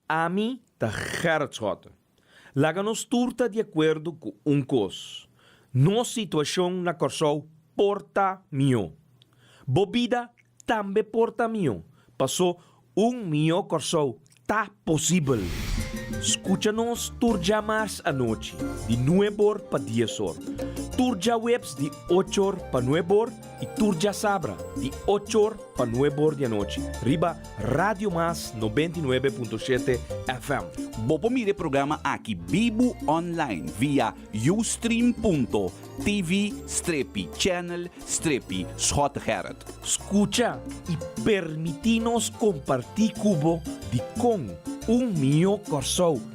Ami ta Gerrit Schotten. Laga nos tur ta di akuerdo ku un kos, nos situashon na Kòrsou por ta mihó. Bo bida tambe por ta mihó, pasó un mihó Kòrsou ta posibel! Skucha nos tur dja mars anochi di nueb or pa dies or, tur djaweps di och or pa nueb or, Y tur djasabra di ocho or pa nuebe or di anochi riba Radio Mas nobenta i nuebe punto shete FM. Bo por mira e programa aki bibu online via Ustream punto TV strepi channel strepi Schott Gerrit. Scucha y permiti nos comparti cu bo dicon un mihó Corsou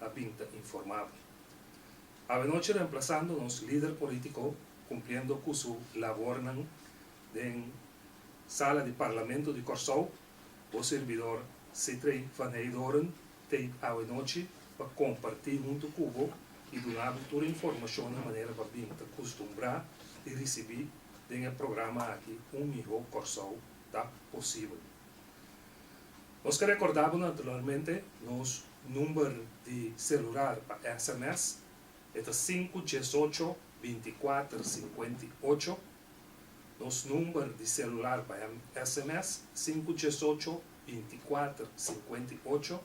a bin ta informabel. Avenochi remplasando nos lider politico cumpliendo cu su labornan den sala di Parlamento di Corsou, bo sirbidor Sitrey van Heydoorn t'ei avenochi pa comparti hunto cu bo y duna bo tur informacionnan manera bo a bin ta custumbra di ricibi den e programa aki Un Miho Corsou ta Posibel. Nos ta recorda bo naturalmente nos number di celular pa sms, e ta sinku dies ocho binti kuater sinkuenta i ocho, nos number di celular pa sms sinku dies ocho binti kuater sinkuenta i ocho,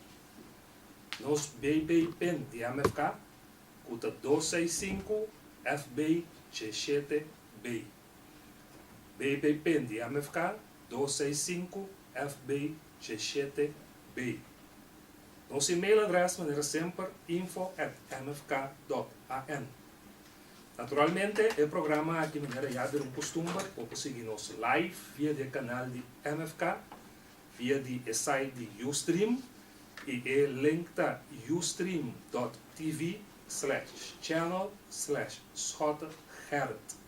nos BB pin di MFK ku ta dos seis sinku FB dje shete B. BB pen di MFK dos seis sinku FB she shete B. Nos email adres manera semper info at mfk dot an. Naturalmente e programa aki manera ya den un kustumber bo por sigui nos live via di e kanal di MFK, via di e site di Ustream y e link ta ustream dot tv slash channel slash Schotter Gerrit.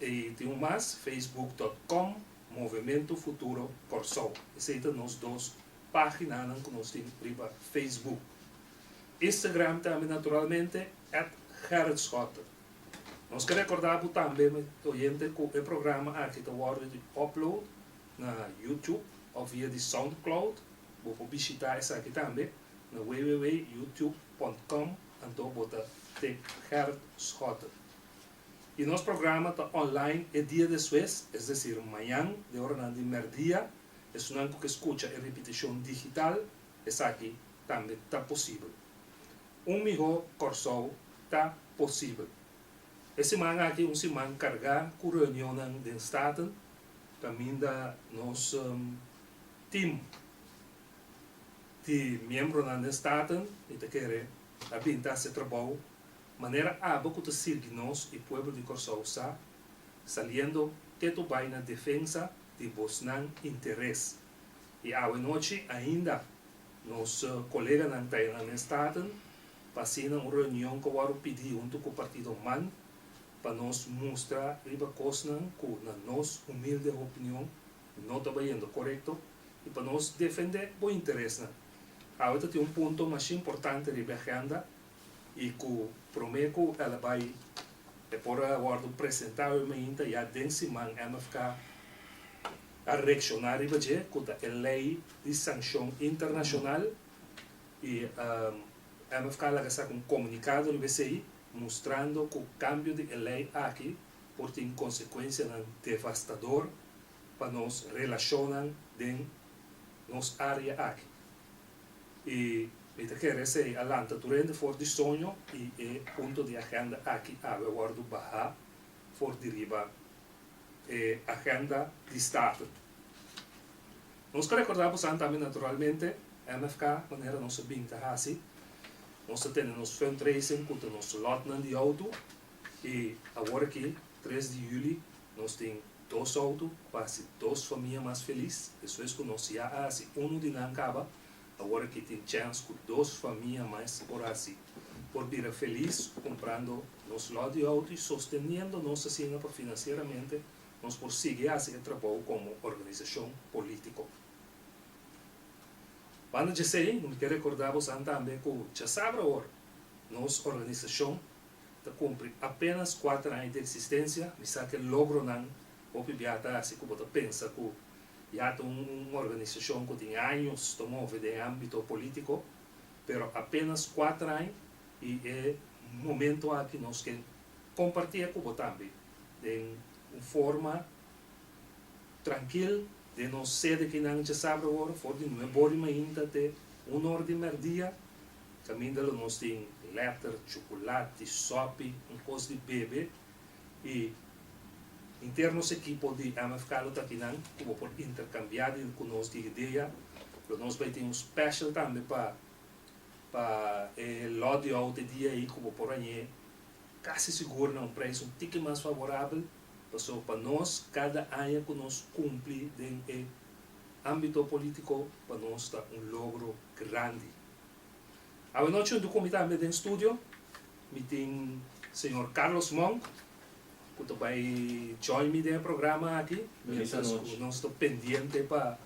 E tin un mas, facebook.com Movemento Futuro Kòrsou. Esei ta nos dos páginanan ku nos tin riba facebook. Instagram tambe naturalmente, at Gerrit Schotten. Nos ke rekordá bo tambe, mi oyente, ku e programa aki ta wòrdu di upload na YouTube òf via di Soundcloud. Bo por bishitá esaki tambe na www.youtube.com anto bo ta tep Gerrit Schotten. Y nos programa ta online e dia despues, es decir, mañan den oranan di merdia. Esunnan cu ke scucha e repeticion digital, esaki tambe ta posibel. Un miho Corsou ta posibel. E siman aki un siman carga cu reunionnan den Staten caminda nos team di miembronan den Staten y ta kere a binti haci trabou. Manera abo cu ta sirgi nos y pueblo di Corsou sa saliendo te to bay na defensa di bosnan interes y awe nochi ainda nos coleganan ta e nan mes staten pa asina un reunion cu a worde pidi hunto cu partido man pa nos mustra riba cosnan cu na nos humilde opinion no ta bayendo corecto y pa nos defende bo interesnan. Awe ta tin un punto mas importante riba e agenda. y cu prome cu el a bay e por a wordo presentado y mainta ya den siman MFK a reacciona riba dje cu ta e ley di sancion internacional y MFK a laga saca un comunicado riba esey mustrando cu cambio di e ley aki por tin consecuencianan devastador pa nos relacionnan den nos area aki. y mi ta kere sa e a lanta tur hende for di soño y e punto di agenda aki a haber wordo baha for di riba e agenda di Staten. Nos ta recorda bosan tambe naturalmente MFK manera nos a bin ta haci, nos ta tene nos fundraising cu ta nos lotnan di auto y awor aki tres di juli Nos tin dos outo pa hasi dos famia mas felis, eso es ku nos ya a hasi unu di nan kaba, awor aki tin chèns ku dos famia mas por hasi, por bira felis kumprando nos lòt di outo i sosteniendo nos asin'an pa finansieramente nos por sigui hasi e trabou komo organisashon polítiko. Banda djesei, mi ke rekordá bosnan tambe ku djasabra awor nos organisashon, ta kumpri apénas kuater aña di eksistensia, mi sa ke logronan hopi bia ta hasi ku bo ta pensa ku ya ta un organisashon ku tin años ta move den ámbito polítiko, pero apénas kuater aña i e momentu aki nos ke kompartié ku bo tambe den un forma trankil. Den nos sede ki nan dje sabra wor, for di nue bor di mainta te un or di merdia, caminda lo nos tin letter, chuculati, sopi, un cos di bebe y inter nos equipo di MFK lo ta kinan cu bo por intercambia di cu nos di idea, lo nos bay tin un special tambe pa pa e lot di oud e dia ey cu bo por hañ'e casi sigur na un prijs un tiki mas favorabel. Paso pa nos cada aña cu nos cumpli den e ambito politico pa nos ta un logro grandi. Awanochi un ducumi tambe den studio, mi tin Señor Carlos Monk cu ta bay join mi den e programa aki mientras cu nos ta pendiente pa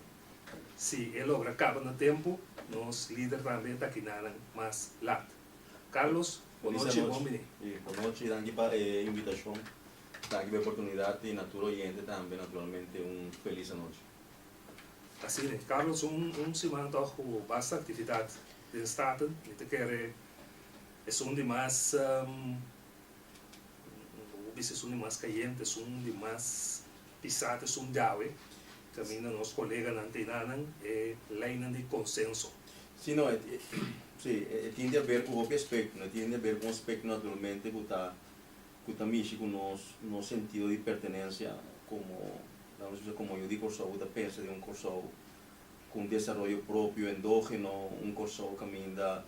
si e logra caba na tempo nos lider tambe ta kinanan mas lat. Carlos, Bo nochi, bon bini. Bo nochi, danki pa e invitashon, danki pa e oportunidat i na tur oyente tambe naturalmente un felis anochi. Asina, Carlos un siman tog ku basta aktividat den Staten, mi ta kere esun di mas bo bisa esun di mas kayente, esun di mas Pisá ta sun Jawe, kaminda nos koleganan ta inanan e leinan di konsenso. Sí, no, sí, e tin di aber ku hopi aspekto, no, e tin di aber ku un aspekto naturalmente ku ta ku ta mishi ku nos nos sentido di pertenensia komo la nos bisa komo yu di Kòrsou ku ta pensa den un Kòrsou ku un desaroyo propio, endógeno, un Kòrsou kaminda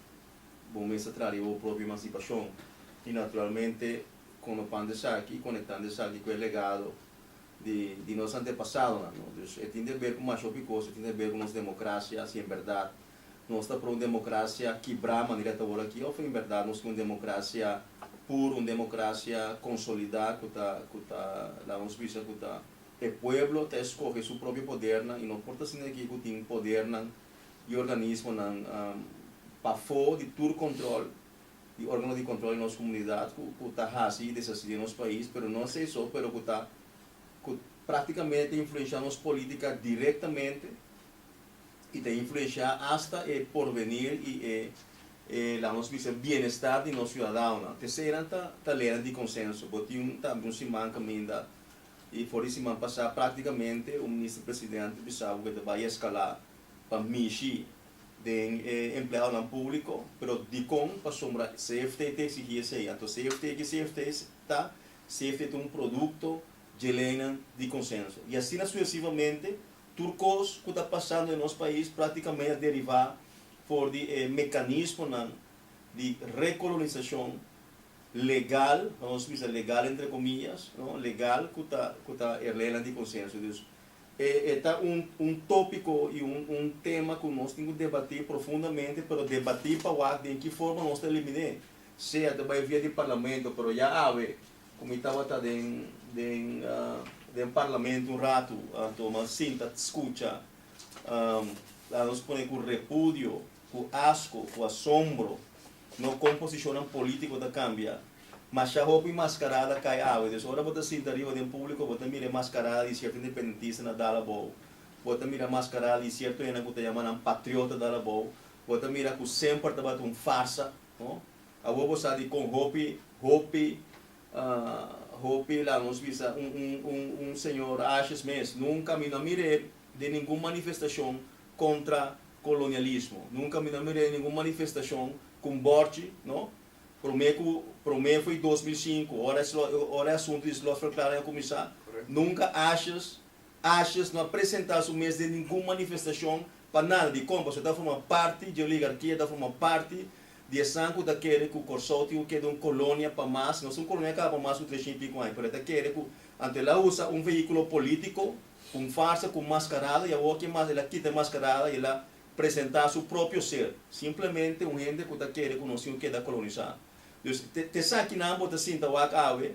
bo mester trahá riba bo propio emansipashon i naturalmente. konopando esaki i konektando esaki ku e legado di nos antepasadonan, no. Dus e tin di ber ku masha hopi kos, e tin di ber ku nos demokrasia, si en bèrdat nos ta pro un demokrasia kibrá manera e ta wòrdu aki òf en bèrdat nos tin un demokrasia pur, un demokrasia konsolidá ku ta ku ta laga nos bisa ku ta e pueblo ta eskohe su propio podernan i no por ta asina aki ku tin podernan i organismonan pafó di tur kòntròl. di organo di control di nos comunidad cu cu ta haci y deshaci den nos pais, pero no asey so, pero cu ta cu practicamente ta influencia nos politica directamente y ta influencia hasta e porvenir y e e laga nos bisa bienestar di nos ciudadaonan. Te sey nan ta ta ley nan di consenso. Bo tin un tambe un siman caminda y for di siman pasa practicamente un minister presidente a bisa bo cu ta bay escala pa mishi den e empleadonan públiko, pero dikon pasobra CFT ta eksigí esei. Anto CFT, ki CFT ta? CFT ta un produkto dje leinan di konsenso. I asina suesivamente, tur kos ku ta pasando den nos pais práktikamente a derivá for di e mekanismonan di rekolonisashon legal, nos bisa legal entre komiyas, legal ku ta e leinan di konsenso. Dus E e ta un un tópiko i un un tema ku nos tin ku debatí profundamente, pero debatí pa wak den ki forma nos ta eliminé, sea ta bai via di parlamento, pero ya awe ku mi tabata den den den parlamento un ratu, anto mas sinta skucha, laga nos pone ku repudio, ku asko, ku asombro, no kon posishonnan polítiko ta kambia. Masha hopi mascarada cay awe, dus ora bo ta sinta riba den publico bo ta mira e mascarada di cierto independentista na dal abou, bo ta mira mascarada di cierto hende cu ta yama nan patriota dal abou, bo ta mira cu semper tabata un farsa, no? Awor bo sa di con hopi, hopi, hopi laga nos bisa un señor ashes mes, nunca mi no a mira e den ningun manifestacion contra colonialismo, nunca mi no a mira e den ningun manifestacion cu un bordje, no? Prome ku prome foi dos mil sinku, ora e ora e asuntu di slotverklaring a kuminsá. Nunka ashis ashis no a presentá su mes den ningun manifestashon pa nada di kon, pasobra e ta forma parti dje oligarkia, ta forma parti di esan ku ta kere ku Kòrsou tin ku keda un kolonia pa mas. No ta un kolonia kaba pa mas ku treshen i piko aña, pero e ta kere ku anto el a usa un vehíkulo polítiko ku un farsa, ku un maskarada, i awo ke mas el a kita e maskarada i el a presenta su propio ser, simplemente un hende cu ta kere cu nos tin cu keda colonisa. Dus, te, te esakinan bo ta sinta wak awe,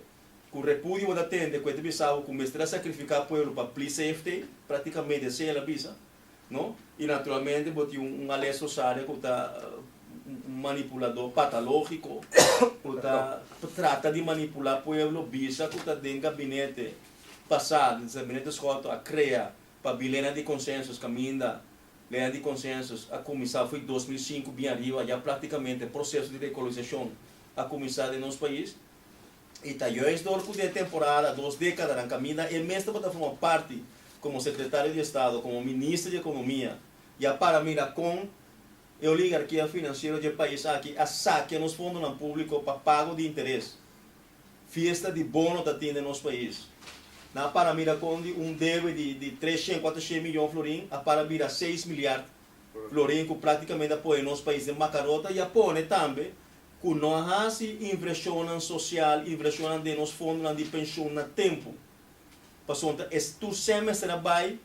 cu repudio bo ta tende cu e ta bisa bo cu mester a sacrifica pueblo pa plis safety, practicamente así el a bisa, no? Y naturalmente bo tin un, un Alex Rosaria cu ta un manipulador patalogico, cu ta trata di manipula pueblo, bisa cu ta den gabinete pasado, den gabinete schoto a crea Pa bi leynan di konsensus kaminda leynan di konsensus a kuminsá fo'i dos mil sinku bien ariba ya praktikamente proseso di rekolonisashon a kuminsá den nos pais i ta juis dor ku den temporada dos dekadanan kaminda e mes tabata forma parti komo sekretario di estado komo minister di ekonomia ya para mira kon e oligarkia finansiero dje pais aki a sakia nos fondonan públiko pa pago di interes. Fiesta di bono ta tin den nos pais. Nan a para mira con di un debe di di tres shen, cuater shen miyon florin a para bira seis miliard florin cu practicamente a pone nos pais den bacarota y a pone tambe cu no a haci inversionnan social, inversionnan den nos fondonan di pensioen na tempo. Pasobra es tur semester a bay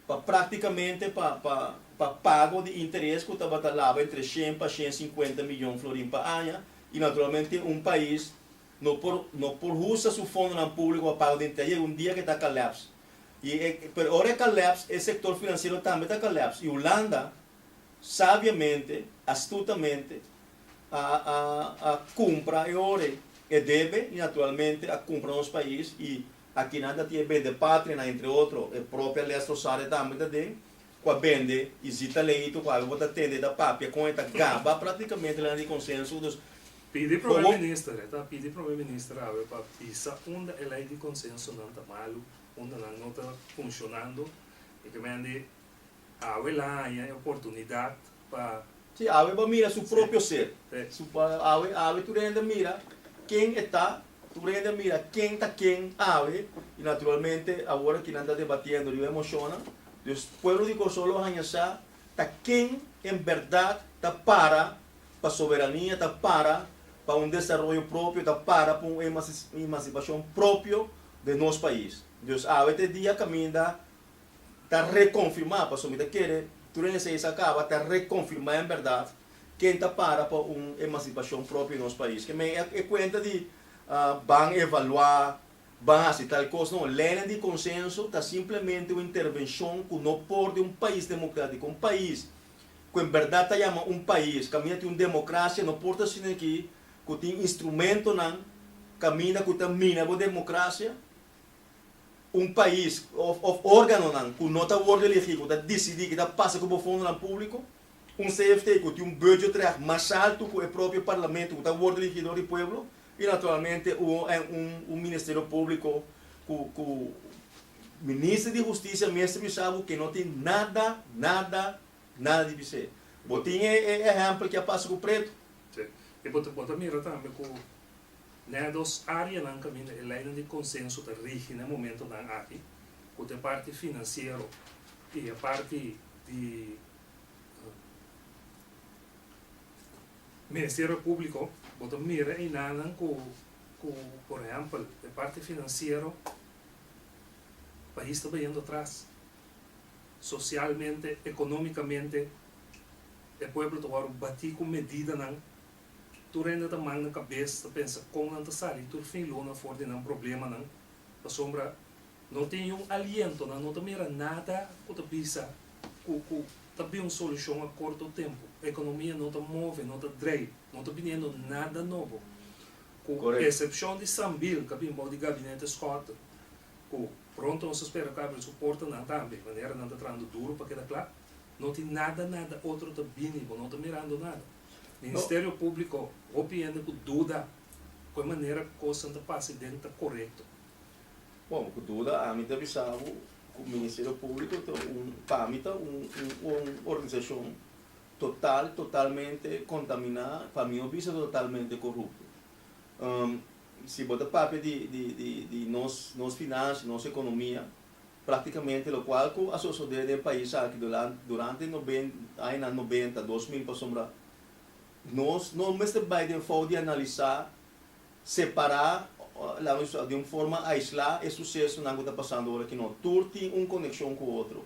pa práktikamente pa pa pa pago di interes ku tabata laba entre shen pa shen sinkuenta miyon florin pa aña i naturalmente un pais no por no por usa su fondonan públiko pa paga di interes yega un dia ku e ta kalèps i e pero ora e kalèps e sektor finansiero tambe ta kalèps i Hulanda sabiamente astutamente a a a kumpra e ore e debe i naturalmente a kumpra nos pais i Aki nan ta tin e bende patrianan entre otro, e propia les Rosaria tambe ta den, ku a bende i si talento ku algu bo ta tende ta papia kon e ta gaba praktikamente lana di konsensu, dus Pidi prome minister, e ta pidi prome minister awe pa bisa unda e lei di konsensunan ta malu, unda nan no ta funshonando, i ke men di Awe la haña e oportunidat pa. Sí, awe bo a mira su propio ser. Su pa, awe, awe tur hende a mira ken e ta, tur hende a mira ken ta ken awe, y naturalmente awor aki nan ta debatiendo riba e mocionnan. Dus, pueblo di Kòrsou lo haña sa ta ken en berdad ta para pa soberania, ta para pa un desaroyo propio, ta para pa un emancipacion propio den nos pais. Dus awe te dia kaminda. ta reconfirma, pasobra mi ta kere tur den esey sa caba ta reconfirma en berdad ken ta para pa un emancipacion propio nos pais. Ke men e cuenta di ban evalua, ban haci tal cos, no, leynan di consenso ta simplemente un intervencion cu no por den un pais democratico. Un pais cu en berdad ta yama un pais caminda tin un democracia no por ta asina aki cu tin instrumentonan caminda cu ta mina bo democracia. un pais of organonan ku no ta word elegi ku ta disidi ke ta pasa ku bo fondonan publiko, un CFT ku tin un budgetrecht mas altu ku e propio parlamento ku ta word elegi dor di pueblo i naturalmente un ministerio publiko ku minister di hustisia mester bisa bo ke no tin nada, nada, nada di bis'e. Bo tin e ehèmpel ke a pasa ku Pretu. Si, i bo ta mira tambe ku. Na e dos áreanan kaminda e leinan di konsenso ta rigi na e momentonan aki, ku ta e parti finansiero i e parti di Ministerio Públiko. Bo ta mira einanan ku, ku por ehèmpel, e parti finansiero pais ta bayendo atras. Sosialmente, ekonómikamente e pueblo ta wòrdu batí ku medidanan. Tur hende ta manga kabes ta pensa kon nan ta sali tur fin luna for di nan problemanan, pasobra no tin un aliento, nan no ta mira nada ku ta bisa ku ku ta bin un solushon a korto tempu. Ekonomia no ta move, no ta drei, no ta biniendo nada nobo. Ku esepshon di Sambil ka bin bou di Gabinete Scott, ku pronto nos ta spera ku a abri su portanan tambe, manera nan ta trahando duru pa keda kla, no tin nada nada otro ta bini, bo no ta mirando nada. Ministerio Públiko hopi hende ku duda ku e manera ku kosnan ta pasa den ta korekto. Bon, ku duda ami ta bisa bo ku Ministerio Públiko ta un, pa mi ta un un organisashon total, totalmente kontaminá, pa mi bo bisa totalmente korupto. Si bo ta papia di di di di nos nos finansia, nos ekonomia, Práktikamente lokual ku a sosodé den pais aki durante añanan nobenta, dos mil pasobra, nos no mester bai den fout di analisá separá, laga di un forma aislá e susesonan ku ta pasando ora aki. No, tur tin un konekshon ku otro.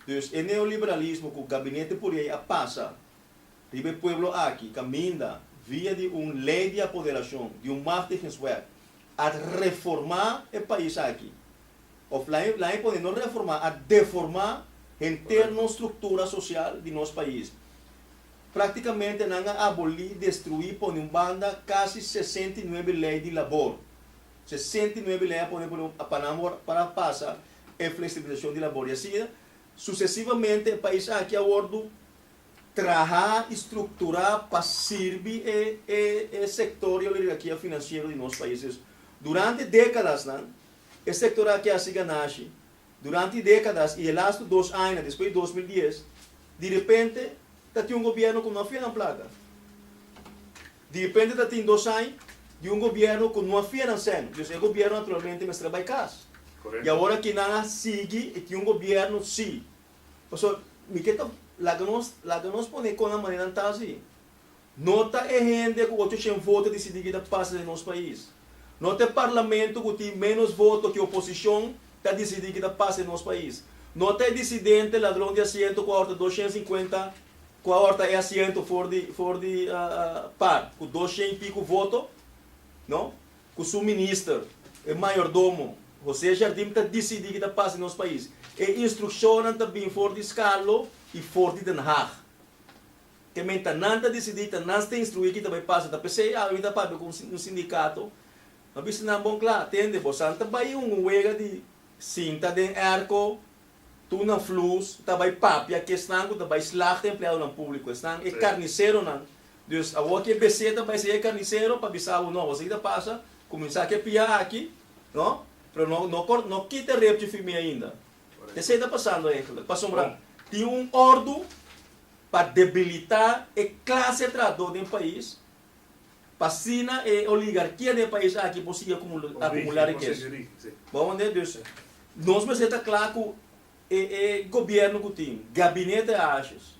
Dus e neoliberalismo ku gabinete por ei a pasa riba e pueblo aki kaminda via di un lei di apoderashon, di un machtigingswet, a reformá e pais aki. of lahen lahen pone no reformá, a deformá henter nos struktura sosial di nos pais. Praktikamente nan a abolí, destruí, pone un banda kasi sesenta i nuebe lei di labor. Sesenta i nuebe lei a pone por e pa nan awor pa nan pasa e fleksibilisashon di labor i así susesivamente. E pais aki a wordu trahá i strukturá pa sirbi e e e sektor di oligarkia finansiero di nos paisnan. Durante dékadasnan E sektor aki a siga nashi duranti dekadas i e lastu dos aña despues di dos mil dies di repente ta tin un gobièrnu ku no a fia nan plaka. Di repente ta tin dos aña di un gobièrnu ku no a fia nan sèn. Entonces e gobièrnu naturalmente mester bai kas. I awor ki nan a sigui i tin un gobièrnu si. Pasobra mi ke ta laga nos laga nos pone kon a manera nan ta si. No ta e hende ku ocho shen voto disidí wi ta pasa den nos pais. No ta e parlamento ku tin ménos voto ku e oposishon ta disidí ku ta pasa den nos pais. No ta e disidente ladron di asiento ku awor ta dos shen sinkuenta ku awor ta e asiento for di for di par ku dos shen i piku voto, no, ku su minister, e mayordomo, José Jardim ta disidí ku ta pasa den nos pais. E instrukshonnan ta bin for di Scarlo i for di Den Haag. Te menta nan ta disidí, ta nan sta instruí ki ta bai pasa, ta p'esei awe mi ta papia ku un sindikato, mi a bisa nan bon kla, tende, bosan ta bai un un wega di sinta den èrko, tur nan flus, ta bai papia ku esnan ku ta bai slagta empleadonan públiko, esnan e karniseronan, dus awor ki e BC ta bai esei e karnisero pa bisa bo, no, boso ki ta pasa, kuminsá ke pia aki, no, pero no no kor no kita e repchi firmé ainda, esei ta pasando eigelik, pasobra tin un òrdu. pa debilitá e klase trahadó den pais, pa asina e oligarkia den e pais aki por sigui akumulá rikesa. Bo hondi? Dus, nos mester ta kla ku e e gobièrnu ku tin, gabinete Aasjes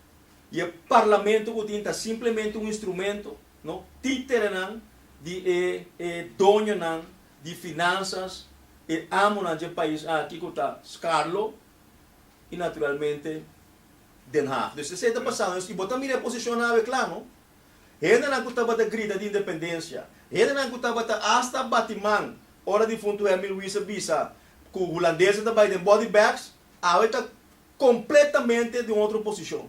i e parlamento ku tin ta simplemente un instrumento, no, títerenan di e e doñonan di finansas, e amonan dje pais aki ku ta skarlo i naturalmente Den Haag. Dus esei ta pasando nos i bo ta mira e posishonnan awe kla, no? Hendenan ku tabata grita di independensia, hendenan ku tabata asta bati man ora difuntu Henry Louis a bisa ku hulandeses ta bai den body bags, awe ta kompletamente den un otro posishon.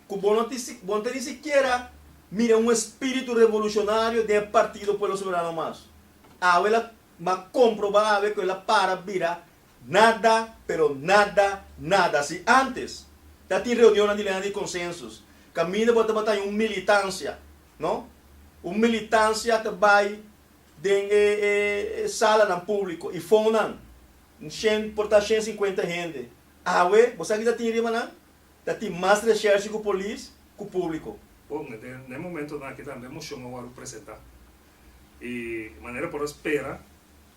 Ku bo no tin si, bo no ta ni sikiera mira un espiritu revolushonario den e Partido Pueblo Soberano mas. Awe el a, bo a komprobá awe ku el a para bira Nada, pero nada, nada si antes ta tin reunionnan di lena di consensus. Caminda bo tabata den un militancia, no? Un militancia ta bay den e e salanan publico y fonan, shen, por ta shen cincuenta hende. Awe, bo sa kico ta tin riba nan? Ta tin mas reshershi cu polis cu publico. Bon, e den e momentonan aki tambe e mocion a wòrdu presenta y manera por a spera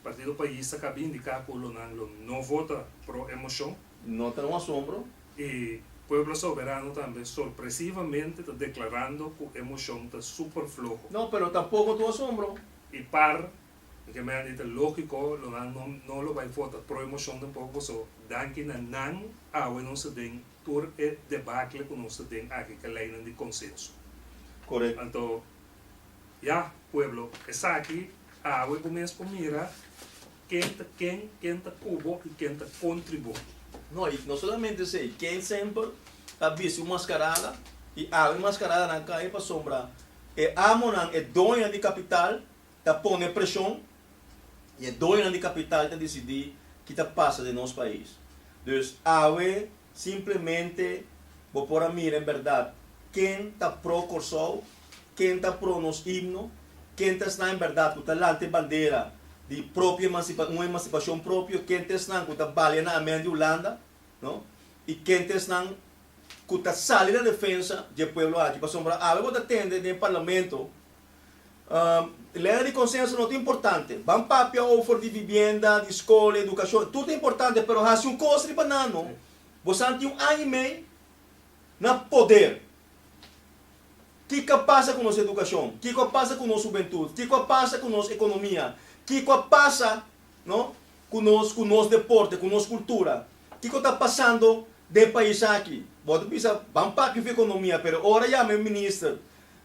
Partido Pais ta kabi indiká ku lo nan lo no vota pro e moshon. No ta un asombro. I Pueblo Soberano tambe sorpresivamente ta deklarando ku e moshon ta super floho. No, pero tampoko ta un asombro. I par di kemen i ta lógiko lo nan no no lo bai vota pro e moshon tampoko paso danki na nan awe nos ta den tur e debakle ku nos ta den aki, ke leinan di konsenso. Korekto. Anto. Ya, pueblo, esaki awe bo mes por mira ken ta ken, ken ta ku bo i ken ta kontri bo. No, i no solamente esei, ken semper ta bisti un maskarada i awe e maskaradanan kai pasobra e amonan, e doña di kapital, ta pone preshon i e doñanan di kapital ta disidí ke ta pasa den nos pais. Dus, awe Simplemente bo por a mira en berdad ken ta pro Kòrsou, ken ta pro nos himno, ken ta esnan en berdad ku ta lanta e bandera di propio emansipa un emansipashon propio, ken ta esnan ku ta balia na amèn di Hulanda, no? i ken ta esnan ku ta sali na defensa dje pueblo aki. Pasobra algu bo ta tende den e parlamento. Lenga di konsenso no ta importante. Ban papia ofer di vibienda, di skol, edukashon. Tur ta importante, pero hasi un kos riba nan no. Bosan tin un aña i mei na poder. Kiko a pasa ku nos edukashon? Kiko a pasa ku nos hubentut? Kiko a pasa ku nos ekonomia? Kiko a pasa no ku nos ku nos deporte, ku nos kultura? Kiko ta pasando den pais aki? Bo ta bisa, ban papia fu ekonomia, pero ora yama e minister.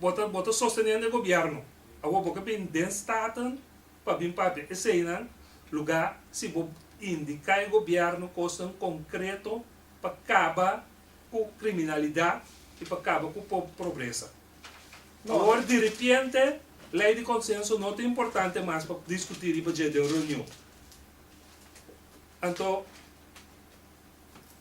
bo ta bo ta sosteniendo e gobierno awor bo ke bin den staten pa bin papia eseinan luga si bo indica e gobierno cosnan concreto pa caba cu criminalidad y pa caba cu pobreza awor diripiente ley di consenso no ta importante mas pa discuti riba dje den reunion anto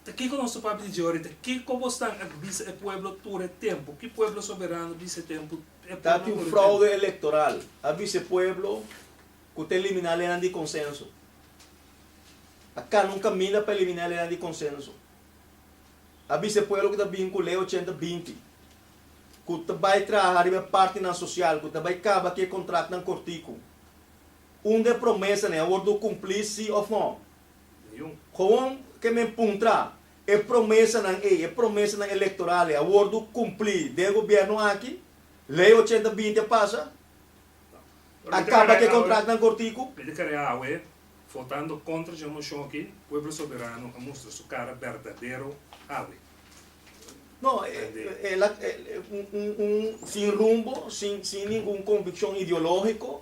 Ta kiko nos ta papia di dje oorita? Kiko bo stan a bisa e pueblo tur e tempu? Ki pueblo soberano a bisa e tempu, e pueblo tur e tempu? Ta tin fraude electoral, a bisa e pueblo cu ta elimina lenan di consenso. A cana un caminda pa elimina e lenan di consenso. A bisa e pueblo cu ta bin cu Ley ochenta binti, cu ta bay traha riba e partinan social, cu ta bay caba cu e contratnan corticu. Unda e promesanan a wordo cumpli si of no? Houn ke men puntra, e promesanan ei, e promesanan elektoral ei a wordu kumplí den e gobièrnu aki? Lei ochenta binti a pasa? A kaba ku e kontraknan kortiku? Mi ta kere awe, votando kontra dje moshon aki, pueblo soberano a mustra su kara berdadero awe. No, el a, un, un, un sin rumbo, sin, sin ningun konvikshon ideológiko,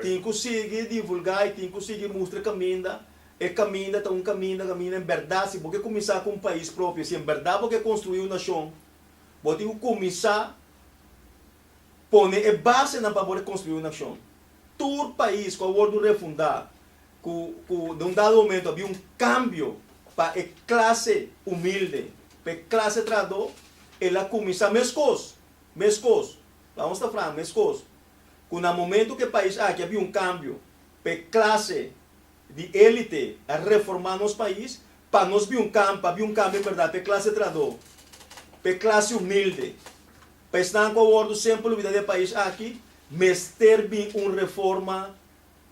Tin ku sigui divulgá i tin ku sigui mustra kaminda. E kaminda ta un kaminda, kaminda en bèrdat. Si bo ke kuminsá ku un pais propio, si en bèrdat bo ke konstruí un nashon, bo tin ku kuminsá pone e basenan pa bo rekonstruí un nashon. Tur pais ku a wòrdu refundá, ku ku den un dado momentu a bi un kambio pa e klase humilde, pa e klase trahadó, el a kuminsá meskos, meskos, laus ta franka, meskos. cu na momento cu e pais aki a bin un cambio pa e clase di elite a reforma nos pais, pa nos bin un cambio, pa bin un cambio en berdad pa e clase trahado, pa e clase humilde, pa esnan cu a wordo semper olbida di e pais aki, mester bin un reforma.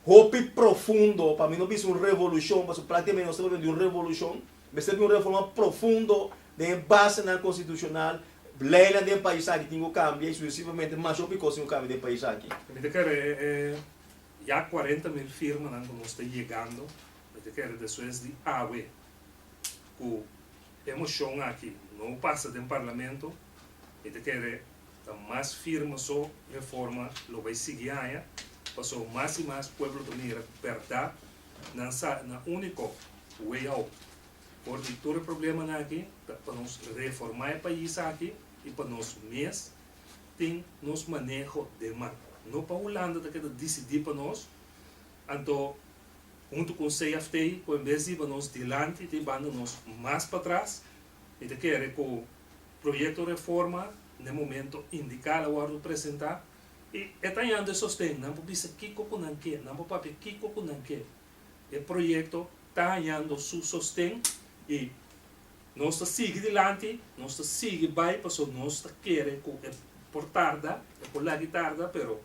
Hopi profundo, pa mi no bisa un revolushon, pasobra praktikamente nos ta hablando di un revolushon, mester bin un reforma profundo den e basenan konstitushonal, leinan den e pais aki tin ku kambia i suksesivamente mas hopi kos tin ku kambia den e pais aki. Mi ta kere e ya kuarenta mil firmanan ku nos ta yegando, mi ta kere despues di awe ku e moshon aki no pasa den parlamento, mi ta kere Ta mas firme so Reforma lo bai sigui haña paso mas i mas pueblo ta mira cu berdad nan sa na unico way out for di tur e problemanan aki ta pa nos reforma e pais aki i pa nos mes tin nos maneho den man no pa Hulanda ta keda dicidi pa nos anto hunto con CFT cu en bes di hiba nos dilanti tin banda nos mas patras mi ta kere cu. Proyekto reforma n'e momento indiká lo wòrdu presentá i e ta yando e sosten. Nan por bisa kiko ku nan ke, nan por papia kiko ku nan ke. E proyekto ta hañando su sosten i nos ta sigui dilanti, nos ta sigui bai pasobra nos ta kere ku e por tarda, e por lag'i tarda pero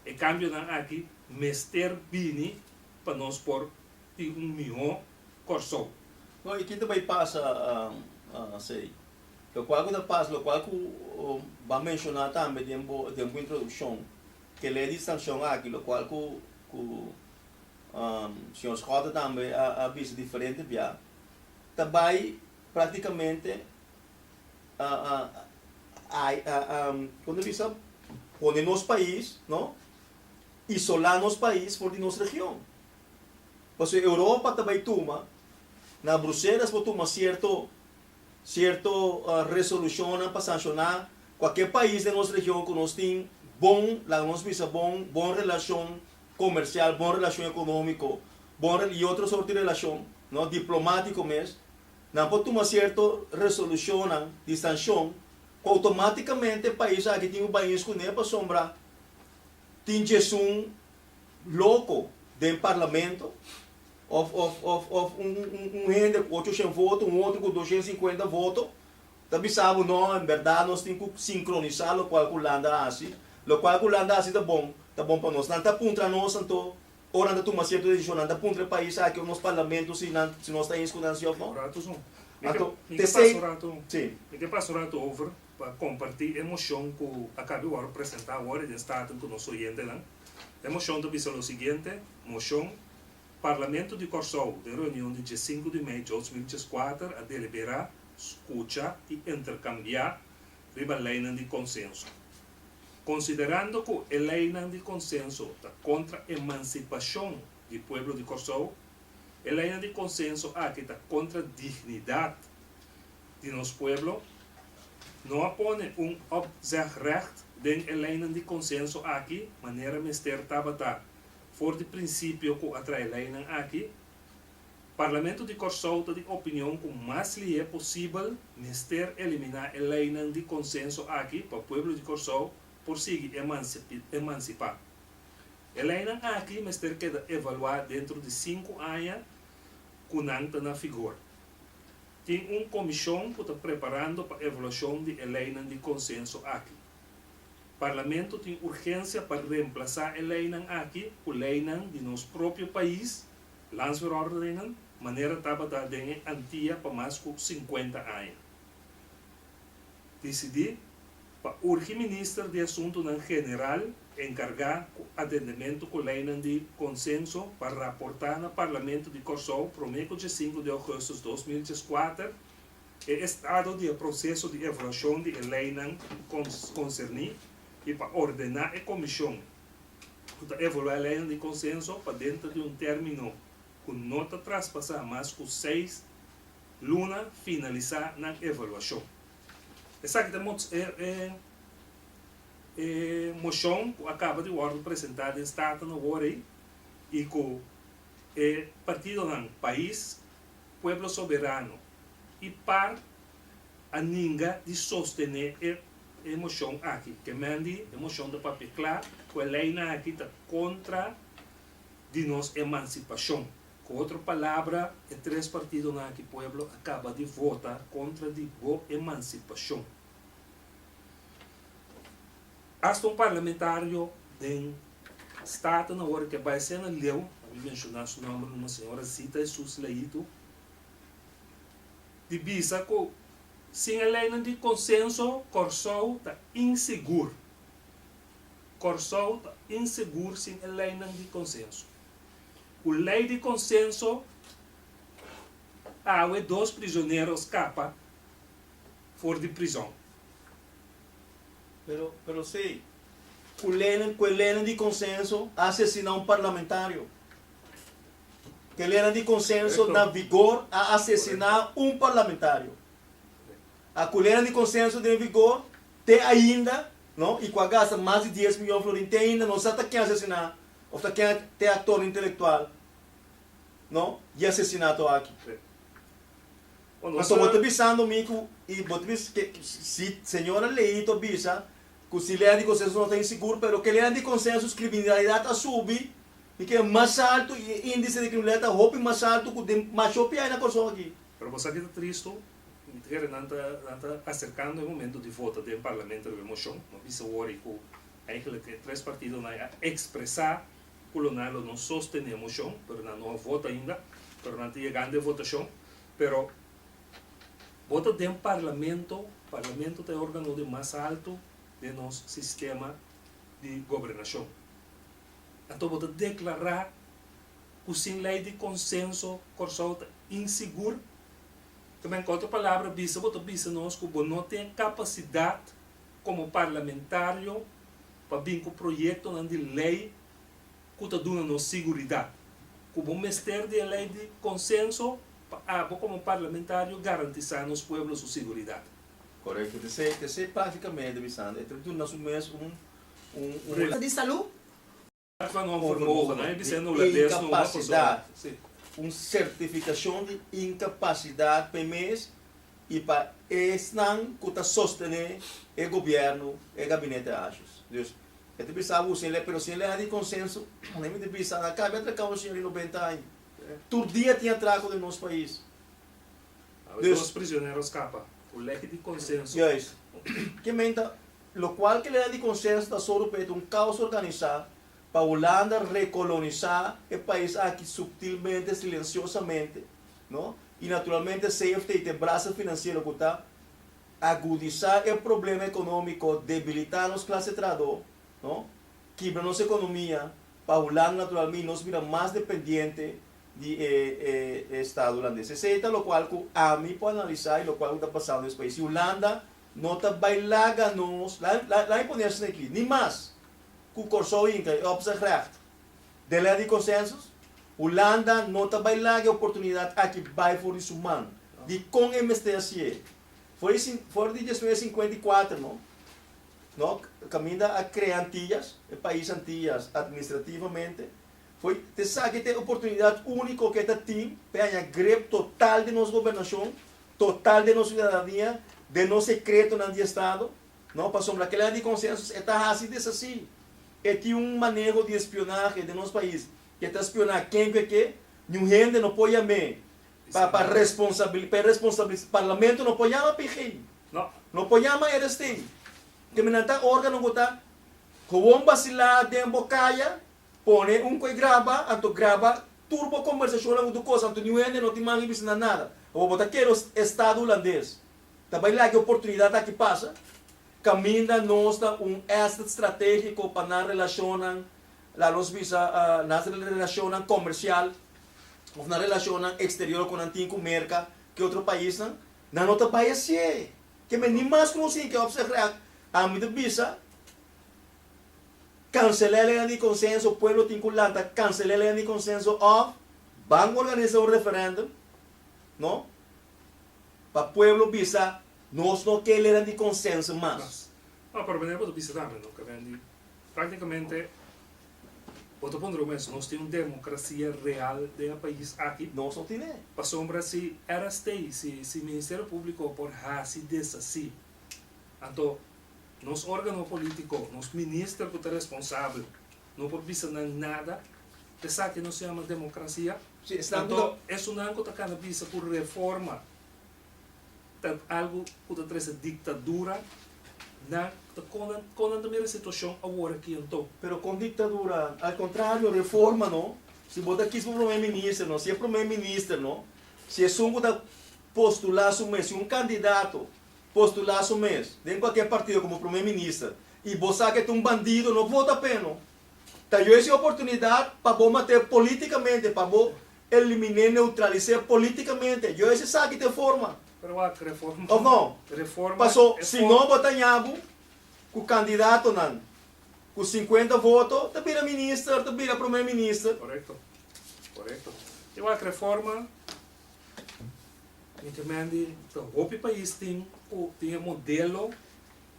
e kambionan aki mester bini pa nos por tin un mihó Kòrsou. No, i kin ta bai pasa asei? Lokual ku ta pasa, lokual ku ban menshoná tambe den bo den bo introdukshon, kele e distrankshon aki, lokual ku ku señor Schotten tambe a bisa diferente bia, ta bai praktikamente kon ta bisa? Pone nos pais, no? Isolá nos pais for di nos region. Pasobra Europa ta bai tuma, na Bruselas por tuma cierto, cierto resolucionnan pa sanciona cualkier pais den nos region cu nos tin bon, laga nos bisa bon, bon relacion comercial, bon relacion economico, bon y otro soort di relacion, no, diplomatico mes. Nan por tuma cierto resolucionnan di sancion cu automaticamente e pais aki tin cu bai ins cune pasobra tin djesun loco den parlamento of of of of un un un hende cu ochocientos voto un otro cu doscientos y cincuenta voto ta bisa bo no en berdad nos tin cu sincronisa locual cu Hulanda a haci locual cu Hulanda a haci ta bon ta bon pa nos nan ta puntra nos anto ora nan ta tuma cierto decision nan ta puntra e pais aki of nos parlamento si nan si nos ta eens cu nan si of no anto te sey si. pa kompartí e moshon ku a kabi wòrdu presentá awor den Staten ku nos oyentenan. E moshon ta bisa lo siguiente, Moshon, Parlamento di Kòrsou den reunion di dje sinku di mei djòutj mil djes kuater a deliberá, skucha i interkambiá riba leinan di konsenso. Konsiderando ku e leinan di konsenso ta kontra emansipashon di pueblo di Kòrsou, e leinan di konsenso aki ta kontra dignidat, di nos pueblo no a pone un opzegrecht den e leinan di consenso aki manera mester tabata for di principio cu a trae leinan aki. Parlamento di Corsou ta di opinion cu mas lihe posibel mester elimina e leinan di consenso aki pa pueblo di Corsou por sigui emancipa. E leinan aki mester keda evalua dentro di sinku aña cu nan ta na figor. Tin un comishon cu ta preparando pa evaluacion di e leynan di consenso aki. Parlamento tin urgencia pa reemplaza e leynan aki cu leynan di nos propio pais, Landsverordeningen, manera tabata den e Antia pa mas cu cincuenta aña. disidí pa urgi minister di Asuntunan General enkargá ku atendementu ku leinan di konsenso pa raportá na Parlamento di Kòrsou promé ku diesinku di ougùstus dos mil dieskuater e estado di e proseso di evaluashon di e leinan konserní i pa ordená e komishon ku ta evaluá e leinan di konsenso pa denter di un término ku no ta traspasá mas ku seis Luna finalisá nan evaluashon. Esaki ta mos e e moshon ku a kaba di wòrdu presentá den Staten na wòrdu ei i ku e partidonan Pais, Pueblo Soberano i par a ninga di sostené e e moshon aki. Ke men di e moshon ta papia kla ku e leinan aki ta kontra di nos emansipashon. Cu otro palabra e tres partidonan aki pueblo a caba di vota contra di bo emancipacion. Hasta un parlamentario den Staten awor ke bay sena leu, a mi menciona su nomber numa señora Zita Jesus Laito, di bisa cu sin e leynan di consenso Corsou ta insegur. Corsou ta insegur sin e leynan di consenso. Ku lei di konsenso awe dos prizonero skapa for di prizon. Pero pero se ku lene ku e lene di konsenso a asesiná un parlamentario. Ku e lene di konsenso na vigor a asesiná un parlamentario. A ku lene di konsenso den vigor te ainda. No, y cu a gasta mas di dies miyon florin te ainda no sa ta ken a sesina of ta ken te actor intelectual no y a sesina to aki. Anto bo ta bisando mi cu y bo ta bisa ke si señora Ley to bisa cu si lena di consenso no ta insigur pero ke lena di consenso criminalidad a subi y ke mas alto y e indice di criminalidad ta hopi mas alto cu den masho piay na Corsou aki. Pero bo sa kico ta tristo? Entere nan ta nan ta aserkando e momento di vota den parlamento riba e moshon. Lo bisa wòrdi ku eigenlijk e tres partidonan a ekspresá ku lo nan lo no sostené e moshon, pero nan no a vota ainda, pero nan ta yegando e votashon. Pero bota den parlamento, parlamento ta e órgano di mas alto den nos sistema di gobernashon. Anto bo ta deklará ku sin lei di konsenso Kòrsou ta insigur? Kto men kotro palabra bisa bo ta bisa nos ku bo no tin kapasidat komo parlamentario pa bin ku proyektonan di lei ku ta duna nos siguridat ku bo mester di e lei di konsenso pa abo komo parlamentario garantisá nos pueblo su siguridat. Korekto di esei esei práktikamete bisando e ta duna su mes un un un. Di salú. Onformogen, nan e bisa no la des no a persona. Un sertificacion di incapacidad pa e mes y pa esnan cu ta sostene e gobierno, e gabinete acios. Dus, e ta bisa abusa e ley, pero si e ley a di consenso, nan e mester bisa, nan a cambia atracao un señor di noventa aña. Tur dia tin atraco den nos pais. Dos prisionero a scapa cu ley di consenso. Juist. Kimen ta. Lo cual ke lena di consenso ta solo pa e ta un causa organisa pa Hulanda recolonisa e pais aki subtilmente, silenciosamente, no, y naturalmente safety te brasa financiero cu ta agudisa e problema economico, debilita nos clase trahador, no, kibra nos economia pa Hulanda naturalme y nos bira mas dependiente di e e e Estado Hulandes. Esey ta lo cual cu ami por analisa y lo cual cu ta pasando nes pais. Si Hulanda No ta bai laga nos, la mi pone asina aki, ni mas ku Kòrsou Inka i Opzichrecht den lei di konsensus, Hulanda no ta bai laga e oportunidat aki bai for di su man. Dikon e mester hasié? For di desnues sinkuenta i kuater no, no kaminda a krea Antillas, e pais Antillas administrativamente, Fo'i esaki ta e oportunidat úniko ke ta tin p'e haña grep total di nos gobernashon, total di nos siudadanía, den nos sekretonan di estado. No, pasobra kila di konsensos e ta hasi desasí. E tin un maneho di espionahe den nos pais ke ta spioná ken ku e ke. Niun hende no por yam'é pa pa responsabili p'e responsabilis parlamento no por yama PG, no, no por yama RSTI. Te minan ta órgano ku ta howon basilá den bo kaya. Pone un koe graba, anto graba tur bo kombersashonnan ku tur kos, anto niun hende no tin man i bisinda nada. Abo bo ta kere estado hulandes ta bai laga e oportunidat aki pasa? Kaminda nos ta un asset stratégiko pa nan relashonnan, la nos bisa, nan relashonnan komersial òf nan relashonnan eksterior ku nan tin ku Merka, ke otro paisnan? Nan no ta bai hasié. Ke men ni mas ku nos hinka. Op zèg rèk, ami ta bisa. Cancel'é ley di consenso, pueblo tin cu lanta cancel'é ley di consenso of ban organiza un referendum no pa pueblo bisa nos no ke ley di consenso mas. No, pero meneer bo ta bisa tambe no Cavendi, practicamente bo ta puntra bo mes nos tin un democracia real den e pais aki? Nos no tin'é. Pasobra si RST, si si Ministerio Publico por haci deshaci anto Nos organo politico, nos minister cu ta responsabel, no por bisa nan nada. Esaki nos yama democracia. Anto, esunnan cu ta cana bisa cu reforma ta algo cu ta trece dictadura, nan ta con, con nan ta mira situacion awor aki anto? Pero con dictadura? Al contrario, reforma no. Si bo ta kis pa prome minister no, si e prome minister no, si esun cu ta postula su mes, si un candidato postula su mes den cualkier partido como Primer Minister y bo sa ke ta un bandido no vota p'e no. Ta yo ese oportunidad pa bo mat'e politicamente, pa bo eliminé, neutralisé politicamente. Yo ese sa ki ta e forma. Of no? Paso si no bo ta ñabu cu candidatonan cu cincuenta voto ta bira Minister, ta bira Primer Minister. Mi ta mira di ta hopi pais tin ku tin e modelo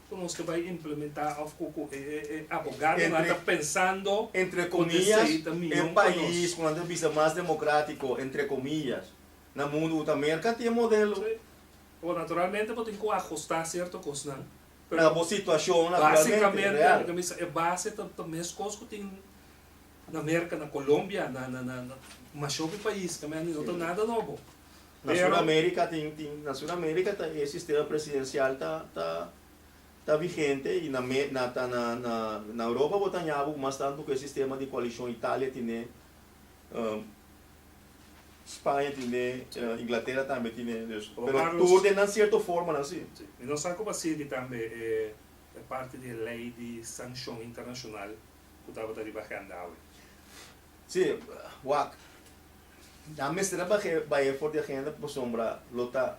ku nos ta bai implementá òf ku ku e e abogadonan ta pensando ku di esei ta mion pa nos. Entre komiyas, e pais ku nan ta bisa mas demokratiko, entre komiyas, na mundu ku ta Merka tin e modelo. Si. Bo naturalmente bo tin ku ahustá sierto kosnan, pero. Na bo situashon aktualmente real. Basikamente mi ta bisa e base ta ta meskos ku tin. Na Merca, na Colombia, na, na, na, na mashopi pais, ta mende, no ta nada nobo. Na Pero, Suramerica tin, tin, na Suramerica ta e sistema presidencial ta, ta, ta vigente, y na Me, na, ta, na, na, na Europa bo ta haña bo cu mas tanto cu e sistema di coalición, Italia tine, um, Spaña tine, uh, Inglaterra tambe tine, dus, Oom pero Carlos, tur den nan cierto forma nan si. si, y nos sa cu basiedi tambe e, e parti di e ley di sancion internacional. ku tabata riba agenda awe. Sí, wak. Nan mester a bahe, bahe for di agenda pasobra lo ta,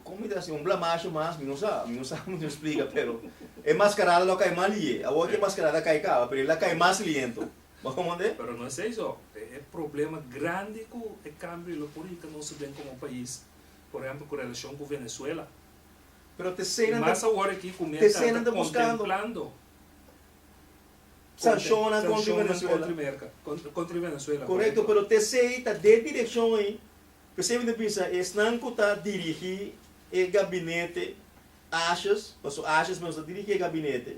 kon mi ta hasi, un blamashon mas, mi no sa, mi no sa mi no splika, pero e maskarada lo a kai mas liye. Awor ku e maskarada a kai kaba, pero el a kai mas liento. Bo kon manda e? Pero no esei so. E problema grandi ku e kambio e lo por hita nos den komo pais, por ehèmpel ku relashon ku Venezuela, Pero te eseinan i ta, mas awor aki ku mi te eseinan akanta ta buskando. kontemplando. sanshonnan kontri Venezuela. Korekto, pero te esei ta den direkshon ei. P'esei mi ta bisa esnan ku ta dirigí e gabinete ashas, pasobra ashas mes ta dirigí e gabinete,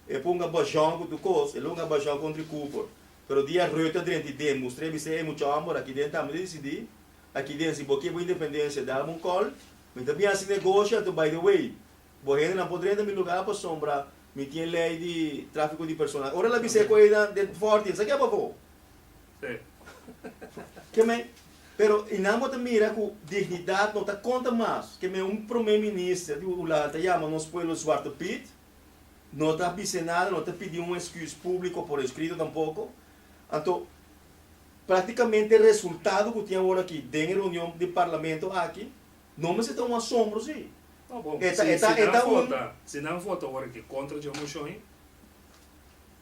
e pon gabajòn ku tur kos, e lo gabajòn kontri Cooper. Pero dia Rutte a drenti den mustr'é a bis'é, ey mucha òmber, aki den tambe ta disidí, aki den si bo ke bo independensia dal mi un kòl, mi ta bin hasi negosio anto by the way. Bo hendenan por drenta mi lugá pasobra mi tin e lei di tráfiko di persona. Ora el a bisa e kosenan den fòrti, sa ke bo a koko? Ke mei? Pero i nan bo ta mira ku dignidat no ta konta mas. Ke mei un promé minister di Hulanda ta yama nos pueblo Zwarte Piet, no ta bis'é nada, no ta pidi un esküs públiko por eskrito tampoko. Anto, práktikamente resultado ku tin awor aki den e reunion di parlamento aki, No mester ta un asombro si. Ta bon. E ta, e ta, e ta un. Si nan vota ora aki kontra dje moshon ei,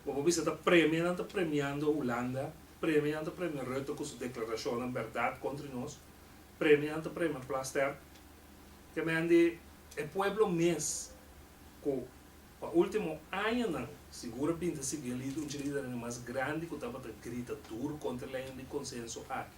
bo por bisa ta premia, nan ta premiando Hulanda, premia nan ta premia Rutte ku su deklarashonnan bèrdat kontri nos, premia nan ta premia Plasterk. Kemendi e pueblo mes ku pa último añanan sigur a binti sibi un dje lidernan di mas grandi ku tabata grita dur kontra e lei di konsenso aki.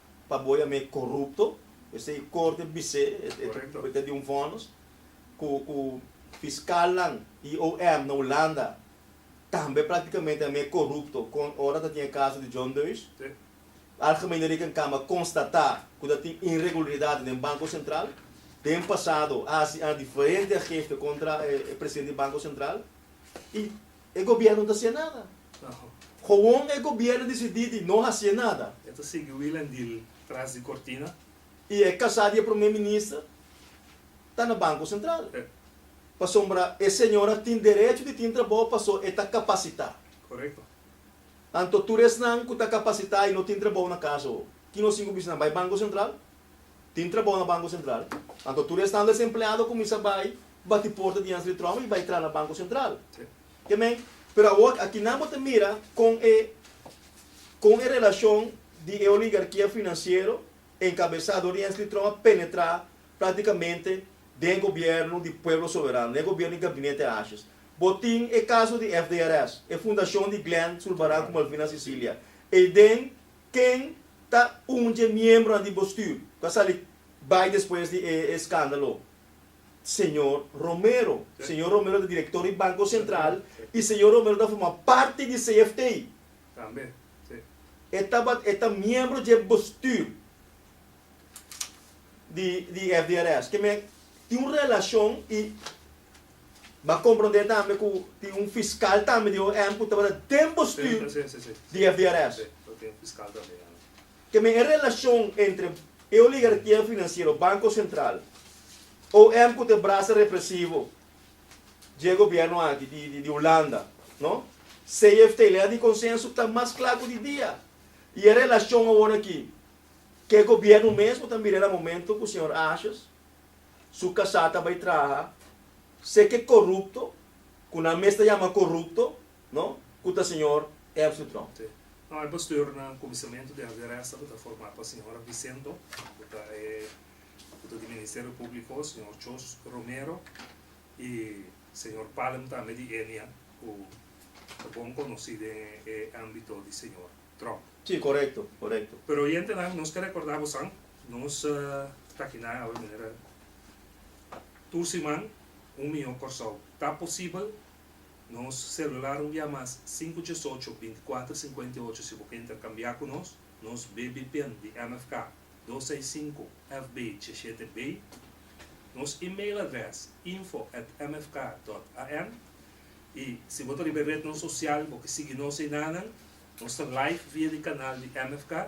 pa boya me corrupto, esei e corte bis'e, e ta trata di un vonus cu cu fiscalnan y OM na Hulanda tambe practicamente a me corrupto con ora ta tin e caso di John Deus. Algemene Rekenkamer constata cu ta tin irregularidadnan den Banco Central, den pasado a haci an diferente geste contra e presidente di Banco Central y. e gobierno ta hacié nada. Gewoon e gobierno decidí di no hacié nada. E ta sigui wila en deal tras di cortina. Y e casá di e Prome Minister ta na Banco Central. Pasobra e señora tin derecho di tin trabao paso e ta capacitá. Correcto. Anto tur esnan cu ta capacitá y no tin trabao na casa ho, ki nos tin cu bisa nan? Bay Banco Central? Tin trabou na Banko Sentral, anto tur esnan desempleado kuminsá bai bati porta dianse di Trump i bai tra na Banko Sentral. Ke men? Pero awor aki nan bo ta mira kon e kon e relashon di e oligarkia finansiero enkabesá dor dianse di Trump a penetrá praktikamente den e gobièrnu di pueblo soberano, den e gobièrnu di Gabinete Ashes. Bo tin e kaso di FDRS, e fundashon di Glen Zulbarán ku Malvinas Sicilia, ei den Ken ta un dje miembronan di bostuur ku a sali bai despues di e eskandalo? Señor Romero. Señor Romero ta direktor di Banko Sentral i señor Romero ta forma parti di CFT. E tabat e ta miembro dje bostuur di di FDRS. Ke men tin un relashon i M'a comprende tambe cu tin un fiscal tambe di OM cu tabata den bestuur di FDRS. Te me e relacion entre e oligarchia financiero, Banco Central, OM cu ta e brasa represivo dje gobierno aki di Hulanda, no? CFT, ley di consenso, ta mas cla cu di dia. Y e relacion aworaki, ke gobierno mes cu ta mira na momento cu señor Ashes? su kasá ta bai traha, se ke korupto, ku nan mes ta yama korupto, no, ku ta señor Ermström. Sí. No, e bestuur na Comisamentu den Aderesa ku ta formá pa señora Vicento, ku ta e ku ta di Ministerio Públiko, señor Chos Romero, i señor Palm tambe di Enia, ku ta bon konosí den e ámbito di señor Trump. Sí, korekto, korekto. Pero oyentenan, nos ke rekordá bosan. Nos ta kina awe manera tur siman un miyon Kòrsou. Ta posibel nos selular un bia mas sinku djes ocho binti kuater sinkuenta i ocho si bo ke interkambiá ku nos. Nos BBPIN di MFK dos seis sinku FB dje shete B. Nos email adrès info at mfk dòt an. I si bo ta riba e retnan sosial bo ke sigui nos einanan. Nos ta live via di kanal di MFK.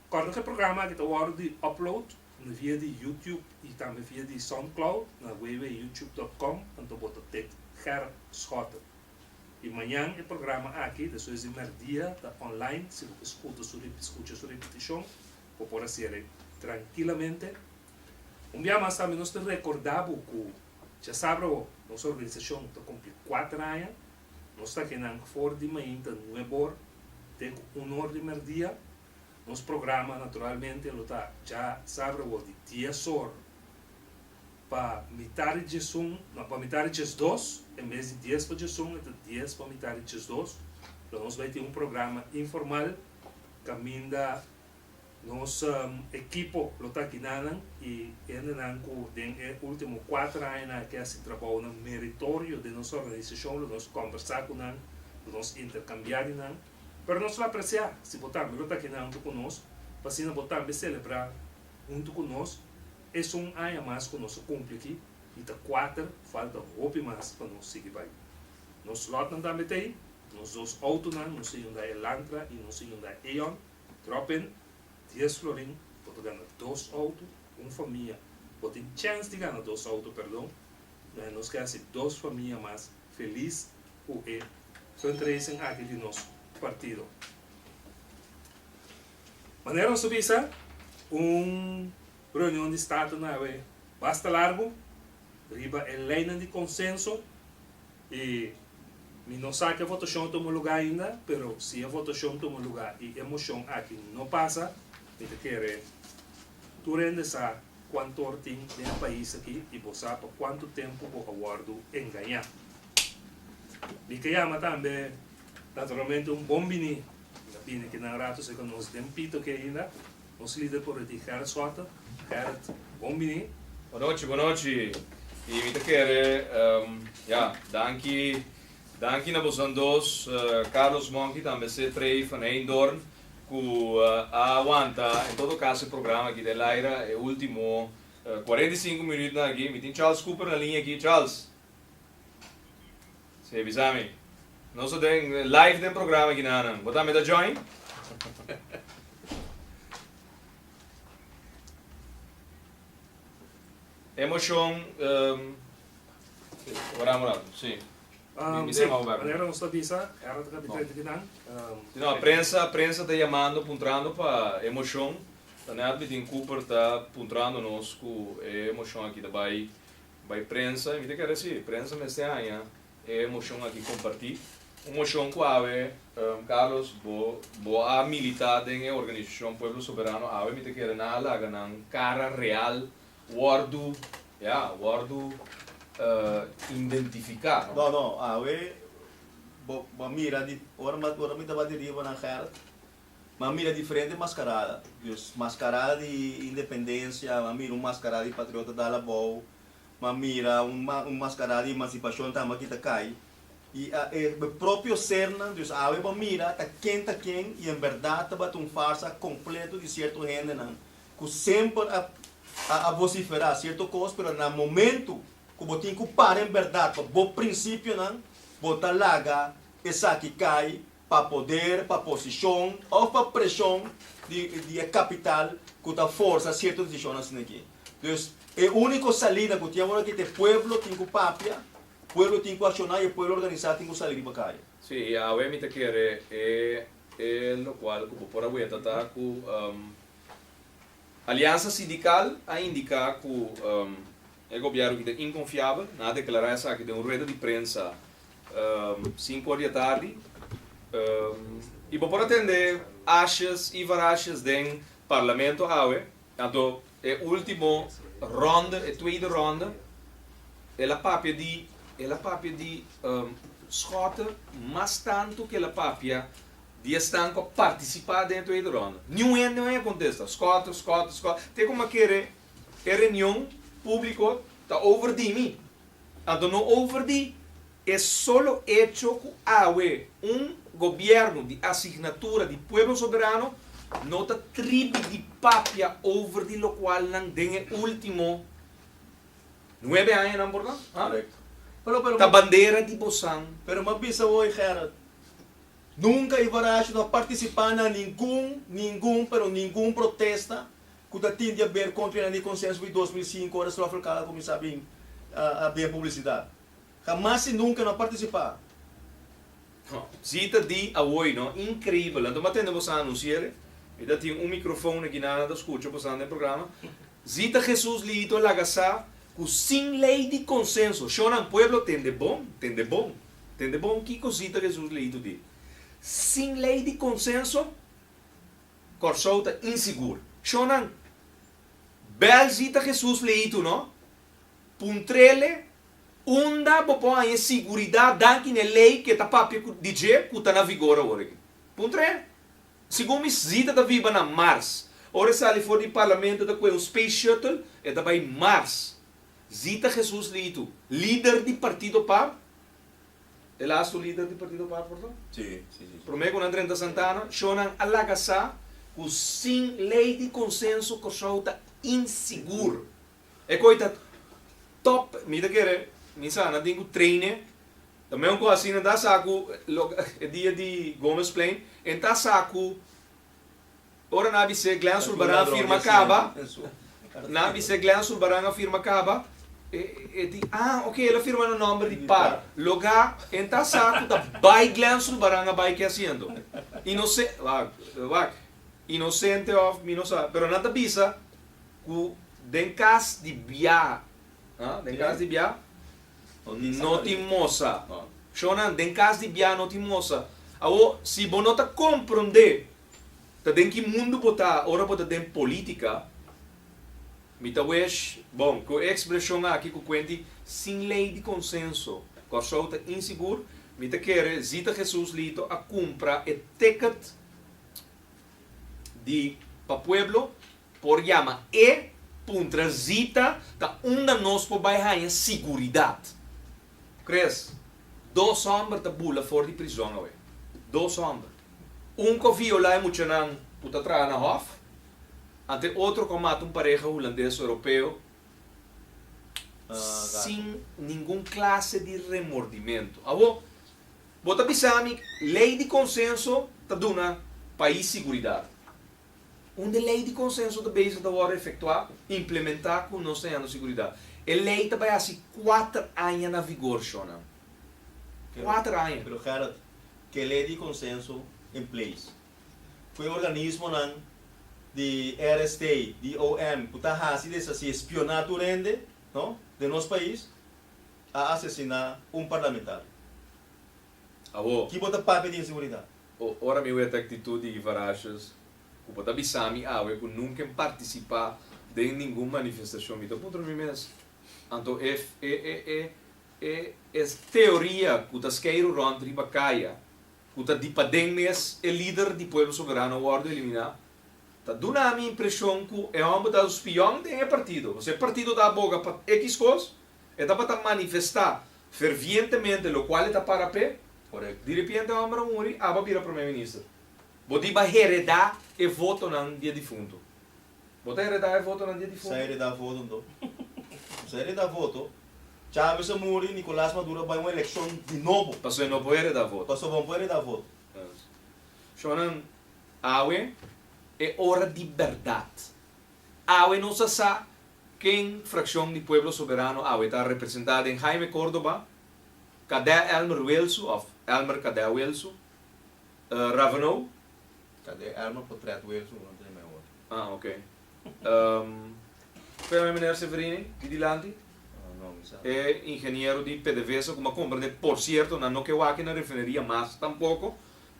Cuando cu e programa aki ta wordo di upload na via di YouTube y tambe via di Soundcloud na www.youtube.com anto bo ta Ted Gerp Schotten. Y mañan e programa aki desoes di merdia ta online si bo ke scuta su scucha su repeticion bo por hacer'e trankilamente. Un bia mas tambe nos ta recorda bo cu chasabra ho nos organisacion ta cumpli cuater aña. Nos ta kenan for di mainta nuebor te cu uno or di merdia. Nos programa naturalmente lo ta dja sa awor di dies or pa mitá di djesun, no, pa mitá di djesdos, en bes di dies pa djesun e ta dies pa mitá di djesdos, lo nos bai tin un programa informal kaminda nos ekipo lo ta kinanan i hendenan ku den e último kuater añanan aki hasi trabounan meritorio den nos organisashon lo nos kòmbersá ku nan, lo nos interkambiá di nan. Pero nos lo apresiá si bo tambe lo ta kende huntu ku nos, pa asina bo tambe selebrá huntu ku nos es un aña mas ku nos a kumpli aki i ta kuater, falta hopi mas pa nos sigui bai. Nos lòtnan tambe ta ei, nos dos outonan, nos a yunda Elantra i nos a yunda Eon, dròp in, dies florin, bo ta gana dos outo, un famia, bo tin chèns di gana dos outo, pèrdon, nos ke hasi dos famia mas. Feliz cu e fundraising aki di nos partido. Manera nos a bisa, un reunion di Staten a haber basta largu riba e leynan di consenso y mi no sa cu e votacion a tuma lugar ainda, pero si e votacion tuma lugar y e mocion aki no pasa, mi ta kere tur hende sa Cuantor tin den e pais aki y bo sa pa cuanto tempo bo a wordo engaña. Mi ke yama tambe naturalmente un bon bini na bini ke nan rato seco nos den pito aki ainda. Nos lider por di Gerrit Sotter. Gerrit, bon bini. Bo nochi, bo nochi. Y mi ta kere, ya, danki, danki na bosan dos, Carlos Monchi tambe se Trey van Heindoorn. cu a aguanta en todo caso e programa aki ta e laira e ultimo cuarenta y cinco minuutnan aki. Mi tin Charles Cooper na liña aki. Charles. Si, bisa mi. Nos ta den live den programa aki na nan. Bo tambe ta join? E mocion, ora amo rato, si. Si, manera nos ta bisa, era ta kapitán di kinan? No, a prensa, prensa ta yamando, puntrando pa e moshon, ta na e at mitin Cooper ta puntrando nos ku e moshon aki ta bai bai prensa, i mi ta kere si, prensa mester haña e moshon aki kompartí, un moshon ku awe, Carlos, bo bo a militá den e organisashon Pueblo Soberano, awe mi ta kere nan a laga nan kara real Wòrdu, ya, wòrdu indentifiká. No, no, awe bo a mira di, ora mi ora mi tabata riba na Gert, mi a mira diferente maskarada. Dus, maskarada di independensia, mi a mira un maskarada di patriota dal abou, mi a mira un un maskarada di emansipashon tambe aki ta kai. I a e bo propio sernan, dus awe bo a mira ta ken ta ken i en bèrdat tabata un farsa kompleto di sierto hendenan cu semper a a a vocifera cierto cos pero na momento cu bo tin cu para en berdad pa bo principionan bo ta laga esaki cay pa poder, pa posicion of pa presion di di e capital cu ta forsa cierto decision asina aki. Dus e unico salida cu tin awor aki ta e pueblo tin cu papia, pueblo tin cu acciona y e pueblo organisa tin cu sali riba calle. Sí, y awe mi ta kere e e locual cu bo por a weta ta cu Aliansa Sindikal a indiká ku e gobièrnu ki ta inkonfiabel, nan a deklará esaki den un rueda di prensa sinku or di atardi. I bo por a tende ashas i varashas den Parlamento awe, anto e último rònde, e tweede rònde, el a papia di, el a papia di skòt mas tantu ku el a papia Di esnan ku a partisipá dentro e ronda, niun hende no a kontesta. Skòt, skòt, skòt. Te ku m'a kere e reunion públiko ta over di mi. Anto no over di e solo echo ku awe un gobièrnu di asignatura di Pueblo Soberano no ta tribi di papia over di lokual nan den e último nuebe añanan por nan ta bandera di bosan. Pero m'a bisa bo, Gerald. Nunka e Varaxo no a partisipá na ningun, ningun, pero ningun protesta ku ta tin di haber kontra e nan di Konsenso di dos mil sinku ora Strofe Local a kuminsá bin a den publisidat. Hamas i nunka no a partisipá. No, si ta di awoy no, inkreibel. Anto m'a tende boso a anunsier'e? Mi ta tin un mikrofoon aki nan, nan ta skucha boso nan den programa. Zi ta Jesús lihito laga sa cu sin ley di consenso, Shonan, pueblo tende bon, tende bon, tende bon, kico zi ta Jesús lihito di? Sin ley di consenso, Corsou ta insigur. Shonan, bel zi ta Jesús lihito no, puntrele unda bo por haña siguridad danki n'e ley ke ta papia di dje cu ta na vigor awor aki. Puntre Segun mi Zita ta biba na Mars. Ora e sali for di parlamento ta kue un space shuttle, e ta bai Mars. Zita Jesus Litu, lider di partido pap, e lastu lider di partido pap for to? Sí, sí, sí. Prome ku nan drenta Santana, sho nan a laga sa ku sin lei di konsenso Kòrsou ta insigur. E koi ta top mi ta kere mi sana tin ku traine ta meun ku asina ta sa ku e dia di Gomez Plein e ta sa ku ora nan a bis'é Glen Zulbarán a firma kaba nan a bis'é Glen Zulbarán a firma kaba e e di ah ok el a firma na nòmber di Parra loga e ta sa ku ta bai Glen Zulbarán a bai ke asiento inosen wak wak inosente of mi no sa pero nan ta bisa Ku den kas di biaha, ha? Den kas di biaha no tin mosa. Shonnan, den kas di biaha no tin mosa. Awor, si bo no ta komprondé ta den ki mundu bo ta ora bo ta den polítika, mi ta wesh bon ku e ekspreshon aki ku kuenti sin lei di konsenso Kòrsou ta insigur, mi ta kere Zita Hesus Lito a kumpra e ticket di pa pueblo por yama e puntra zita ta unda nos por bai haña siguridat. Chris, Dos hòmber ta bula for di prizòn awe. Dos hòmber. Un ku a viola e muchanan ku ta traha na hòf, anto e otro ku a mata un pareha hulandes su europeo sin ningun klase di remordimentu. Awo, Bo ta bisami ley di consenso ta duna pais siguridad. Unda ley di consenso ta bezig ta worde efectua, implementa cu nos ta yando siguridad? E ley ta bay haci cuater aña na vigor shonan. Cuater aña. Pero Gerrit, ke ley di consenso in place. Cu e organismonan di RST, di OM cu ta haci deshaci, espiona tur hende, no, den nos pais. a asesiná un parlamentario. Awo. Ki bo ta papia di inseguridad? O ora mi wet e actitud di Ivarashus cu bo ta bisa mi awe cu nunca en participa den ningun manifestacion mi ta puntra mi mes, anto e e e e e e teoria cu ta skeiro rond riba caya cu ta di paden mes e lider di Pueblo Soberano wordo elimina ta duna mi impresion cu e homber ta un spion den e partido, osea e partido ta a boga pa X cos E tabata manifestá fervientemente lokual e ta para p'e. Ora di repiente e hòmber a muri, aba a bira promé minister. Bo diba heredá e votonan di e difuntu. Bo ta heredá e votonan di e difuntu? Sa heredá voto anto? No sa heredá voto. Chávez a muri, Nicolás Maduro a bai un elekshon di nobo. Pasobra e no por heredá voto. Pasobra bo no por heredá voto. Shonnan, awe e ora di bèrdat. Awe nos a sa Ken frakshon di Pueblo Soberano awe ta representá den Jaime Córdoba, Kadè Elmer Wilsu òf Elmer Kadè Wilsu, Ravenau? Kadè Elmer Potrèt Wilsu, no tin e men otro. Ah, ok. P'e bai Meneer Severini di dilanti? No, mi sa. E ingeniero di pdvsa ku m'a kompra den, por sierto nan no ke wak na refineria mas tampoko,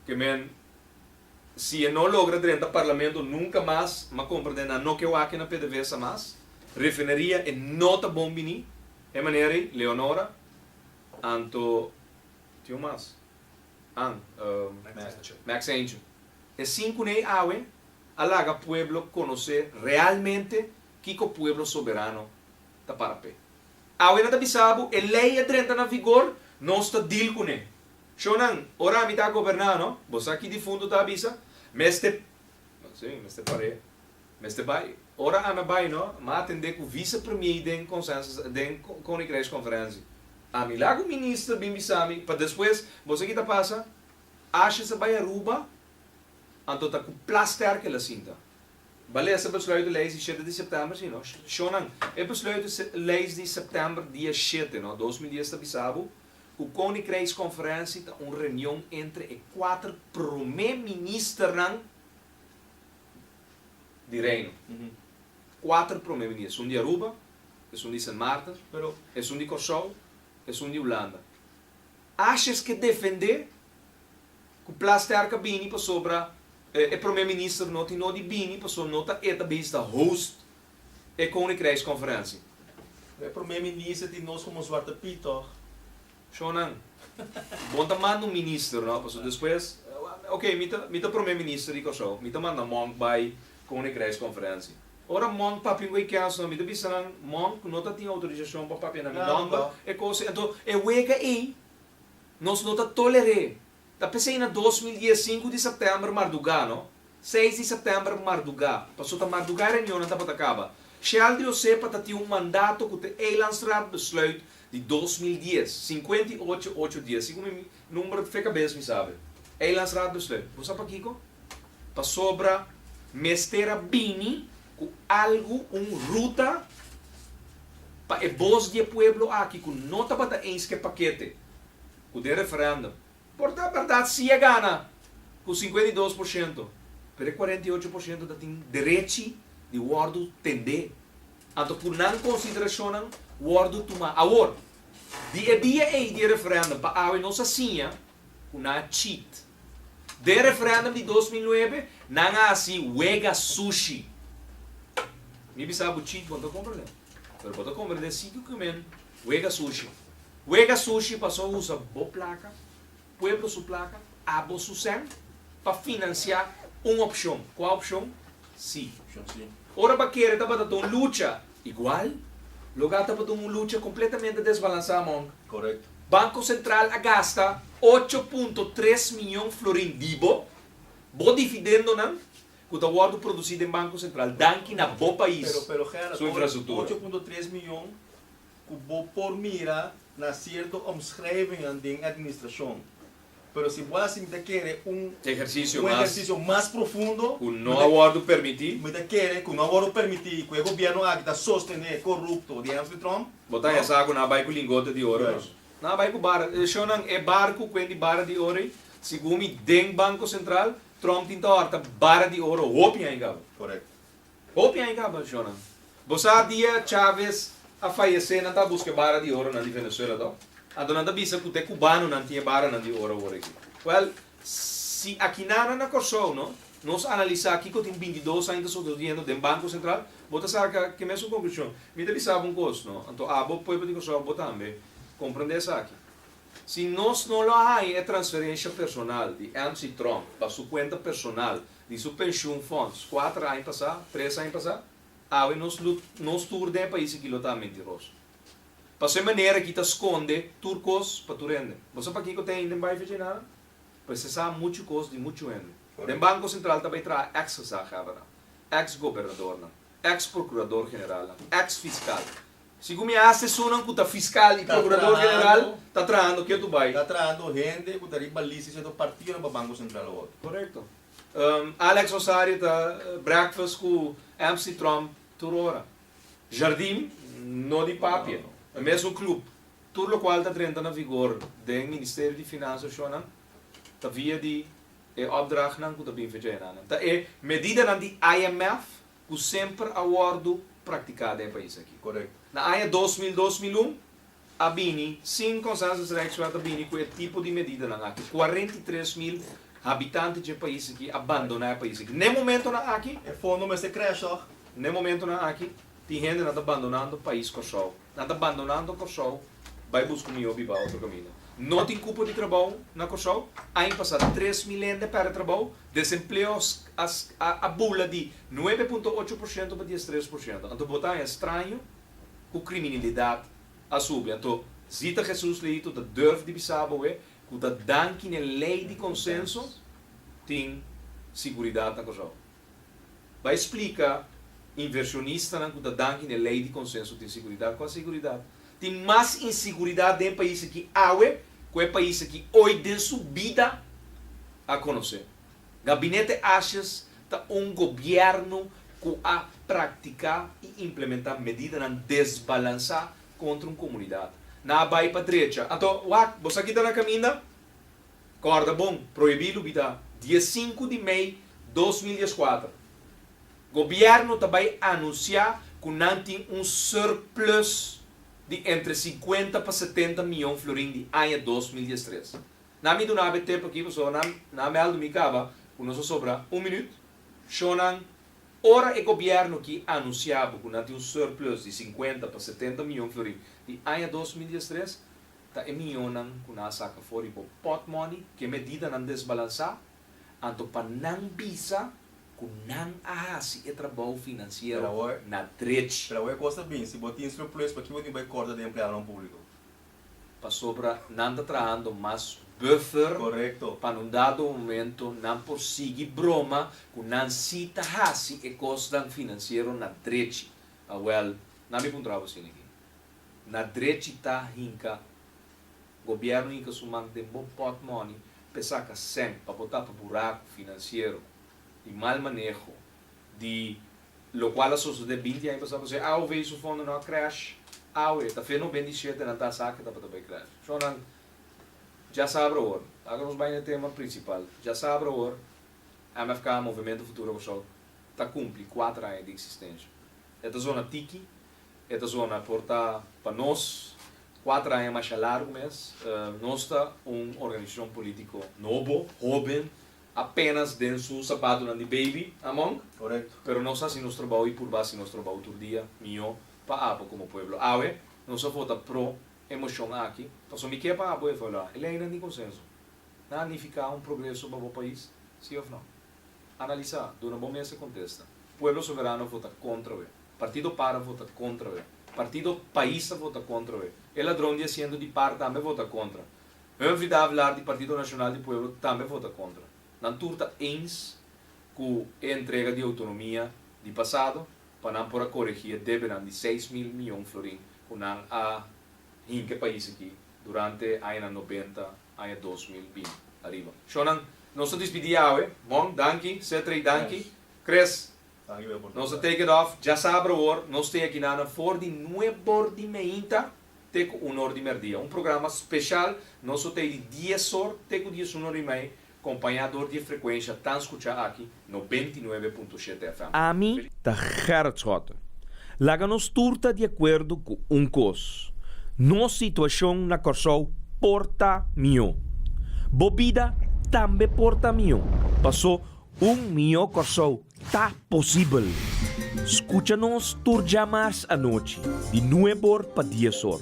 ke men. Si e no logra drenta parlamento nunca mas ma compra den nano ke wak na pdvsa mas refineria e no ta bon bini e manera ey Leonora Anto tin un mas an Max Angel e cinco ney awe a laga pueblo conoce realmente kico pueblo soberano ta para pe awe na ta bisa bo e ley a drenta na vigor nos ta deal cune Chonan, ora mi ta goberná, no? Bo sa ki difuntu ta a bisa? Mester, no, sí, mester par'é, mester bai. Ora ami a bai, no, m'a atendé ku visepremier den konsensus, den koninkrijkskonferensie. Ami la ku minister bin bisa mi, pa despues, bo sa ki ta pasa? Ashes a bai Aruba, anto ta ku plaster ku el a sinta. Ba lesa besluito leis di shete di sèptèmber, sí, no? Chonan, e besluito leis di sèptèmber dia shete, no, dos mil dies ta bisa bo, ku Koninkrijkskonferensie ta un reunion entre e kuater promé ministernan di Reino. Kuater promé minis, esun di Aruba, esun di Sint Maarten, esun di Kòrsou, esun di Hulanda. Asjes ke defendé ku Plasterk a bini pasobra e promé minister no tin nodi bini pasobra no ta e ta bisda host e Koninkrijkskonferensie. E Prome Minister di nos komo Zwarte Piet tòg? Shonan, bon ta manda un minister no, pasobra despues, ok, mi ta mi ta Prome Minister di Kòrsou, mi ta manda Monk bai Koninkrijkskonferensie. Ora Monk papia un weekend so, mi ta bisa nan, Monk no ta tin outorisashon pa papia na mi nòmber e kos ei. Anto e wega ei nos no ta toler'é. Ta p'esei na dos mil dies sinku di sèptèmber mardugá, no. Seis di sèptèmber mardugá, paso ta mardugá reunionnan tabata kaba. Sheldry Osé patatiu un mandato ku te Eilandsraad Besluit di dos mil dies, sinkuenta i ocho, ocho dies, si ku mi number fe kabes mi sabe. Eilandsraad Besluit. Bo sa pakiko? Pasobra mester a bini ku algu, un ruta pa e bos di e pueblo aki ku no tabata enske'e pakete. ku den referendum. Por ta bèrdat si e gana ku sinkuenta i dos por shento, pero e kuarenta i ocho por shento ta tin derechi di wòrdu tendé anto ku nan konsiderashonnan wòrdu tumá. Awor, di e dia ei di e referendum pa awe nos a siña ku nan a cheat. Den e referendum di dos mil nuebe nan a hasi wega sushi. Mi bisa bo cheat, bo no ta komprendé, pero bo ta komprendé si document Wega sushi. Wega sushi paso usa bo placa, pueblo su placa, abo su cen, pa financia un opcion. Cua opcion? Si. Ora ba kere tabata ta un lucha igual, loga tabata un lucha completamente desbalansa, Monk. Correcto. Banco Central a gasta ocho punto tres miyon florin di bo, bo difidendonan, ku ta wòrdu produsí den Banko Sentral danki na bo pais su infrastruktura. Ehersisio mas ku no a wòrdu permití. Bo ta hesá ku nan a bai ku lingote di oro nos? Nan a bai ku bara. Shonnan, e barku ku wen di bara di oro ei, segun mi, den Banko Sentral, Trump tin ta horta bara di oro hopi aña caba. Correcto. Hopi aña caba, Jonan. Bo sa dia Chavez a fayece nan ta busca e bara di oro nan di Venezuela to? Anto nan ta bisa cu te cubanonan tin e baranan di oro awor aki. Well, si akinan na Corsou no, nos analisa kico tin binti dos aña ta socediendo den Banco Central, bo ta sa ca ki mesun conclusion. Mi ta bisa bo un cos no, anto abo pueblo di Corsou, abo tambe, comprende esaki. Si nos no lo a haña e transferencia personal di MC. Trump pa su cuenta personal di su pensioen fonds cuater aña pasa, tres aña pasa, awe nos lo nos tur den e pais aki lo ta mentiroso. Paso e manera aki ta sconde tur cos pa tur hende. Bo sa pakico ta hende bay fecha nada? P'esei sa mucho cos di mucho hende. Den Banco Central ta bay traha ex-gezaghebbernan, ex-gobernadornan, ex-procurador-generalnan, ex-fiscal, Sicu mi haas esonan cu ta fiscal y procurador general ta trahando cu yo tu bay. Ta trahando hende cu ta riba list di cierto partidonan pa Banco Central o otro. Correcto. Alex Osario ta breakfast cu Amsty Trump tur ora. Jardim no di papia. E mesmo club. Tur locual ta drenta na vigor den Ministerio di Finansa oshonan ta via di e opdrachtnan cu ta bin fecha enanan. Ta e medidanan di IMF. ku semper a wòrdu praktiká den e pais aki. Na aña dos mil, dos mil un, a bini sin Consensus Rijkswet a bini ku e tipo di medidanan aki. Kuarenta i tres mil habitanti dje pais aki a bandoná e pais aki. N'e momentonan aki. E fondo mester krèsh tòg. N'e momentonan aki tin hendenan ta bandonando pais Kòrsou. Nan ta bandonando Kòrsou bai buska un mihó biba otro kaminda. No tin kupo di trabou na Kòrsou, ain pasa tres milen dè pèrdè trabou, desempleo a bula di nuebe punto ocho por shento pa dies tres por shento. Anto bo ta haña straño ku kriminilidat a subi? Anto Zita Hesus Lehito ta durf di bisa bo e ku ta danki n'e lei di konsenso? Tin siguridat na Kòrsou. Bai splika inversionistanan ku ta danki n'e lei di konsenso tin siguridat ku aseguridat. Tin mas inseguridat den e pais aki awe ku e pais aki oit den su bida a konosé. Gabinete Ashes ta un gobièrnu ku a praktiká i implementá medidanan desbalansá kontra un komunidat. Nan a bai pa drecha. Anto, wak, bo sa kita na kaminda? Kòrda bon, prohibí lubidá, di e sinku di mei dos mil dieskuater, Gobièrnu ta bai anunsiá ku nan tin un surplus di entre sinkuenta pa setenta mion florin di aña dos mil diestres. Nan mi duna ab'e tep aki pasobra nan nan a mèldu mi kaba ku nos a sobra un minüt. Shò nan, ora e Gobièrnu aki anunsiá bo ku nan tin un surplus di sinkuenta pa setenta mion florin di aña dos mil diestres, Ta e miónan ku nan a saka for di bo pot mòni ku e medidanan desbalansá, anto pa nan bisa ku nan a hasi e trabou finansiero na drech. Pero awor e kos ta bini. Si bo tin surplus, pakí bo tin bai kòrta di e empleadonan públiko? Pasobra nan ta trahando mas buffer pa un dado momento nan por sigui broma ku nan sí ta hasi e kosnan finansiero na drech. Awèl, nan mi puntraba bo sin aki. Na drechita hinka Gobierno hinka su man den bo pot money pe saka cent pa bo tapa buraco financiero di mal maneho di lo cual a sosode binti aña pasado se awe bay su fondo no a crash awe ta fe no ben di siete nan ta asaki tabata bay crash so nan ja sabra awor laga nos bay na e tema principal ja sabra awor MFK Movemento Futuro Kòrsou ta cumpli cuater aña di existencia e ta zona tiki E ta zona por ta pa nos kuater aña masha largu mes. Nos ta un organisashon polítiko nobo, hóben, apénas den su sapatunan di beibi, Among? Korekto. Pero nos a hasi nos trabou i purba hasi nos trabou tur dia mihó pa abo komo pueblo. Awe nos a vota pro e moshon aki pasobra mi ke pa abo evaluá e leinan di konsenso. Nan a nifiká un progreso pa bo pais, sí òf nò? Analisá, duna bo mes e kontesta. Pueblo Soberano a vota kontra awe. Partido para vota contra we. Partido pais a vota contra we. E ladron di asiento di par tambe vota contra. Hun vida hablar di Partido Nacional di Pueblo tambe vota contra. Nan tur ta eens cu e entrega di autonomia di pasado pa nan por a coregi e debenan di seis mil miyon florin cu nan a hinca e pais aki durante añanan nobenta aña dos mil bini ariba. Sho nan nos ta dispidi awe. Mon, danki. Setrey, danki. Chris, Nos ta take it off, dja sa abra awor, nos ta yaki nana for di nuebor di meinta te ku unor di merdia. Un programa speshal nos so tei di diesor te ku diesuno rimei, kompañá dor di e frekuensha tan skuchá aki, nobenta i nuebe punto shete FM. Ami ta Gerrit Schotten. Laga nos tur ta di akuerdo ku un kos, nos situashon na Kòrsou por ta mihó. Bo bida tambe por ta mihó. Pasó Un mihó Kòrsou ta posibel! Skucha nos tur djamars anochi di nueb or pa dies or,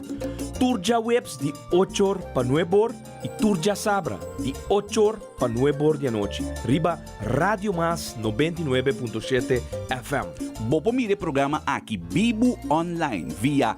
tur djaweps di och or pa nueb or i tur djasabra di och or pa nueb or di anochi riba Radio Mas nobenta i nuebe punto shete FM. Bo por mira e programa aki bibu online via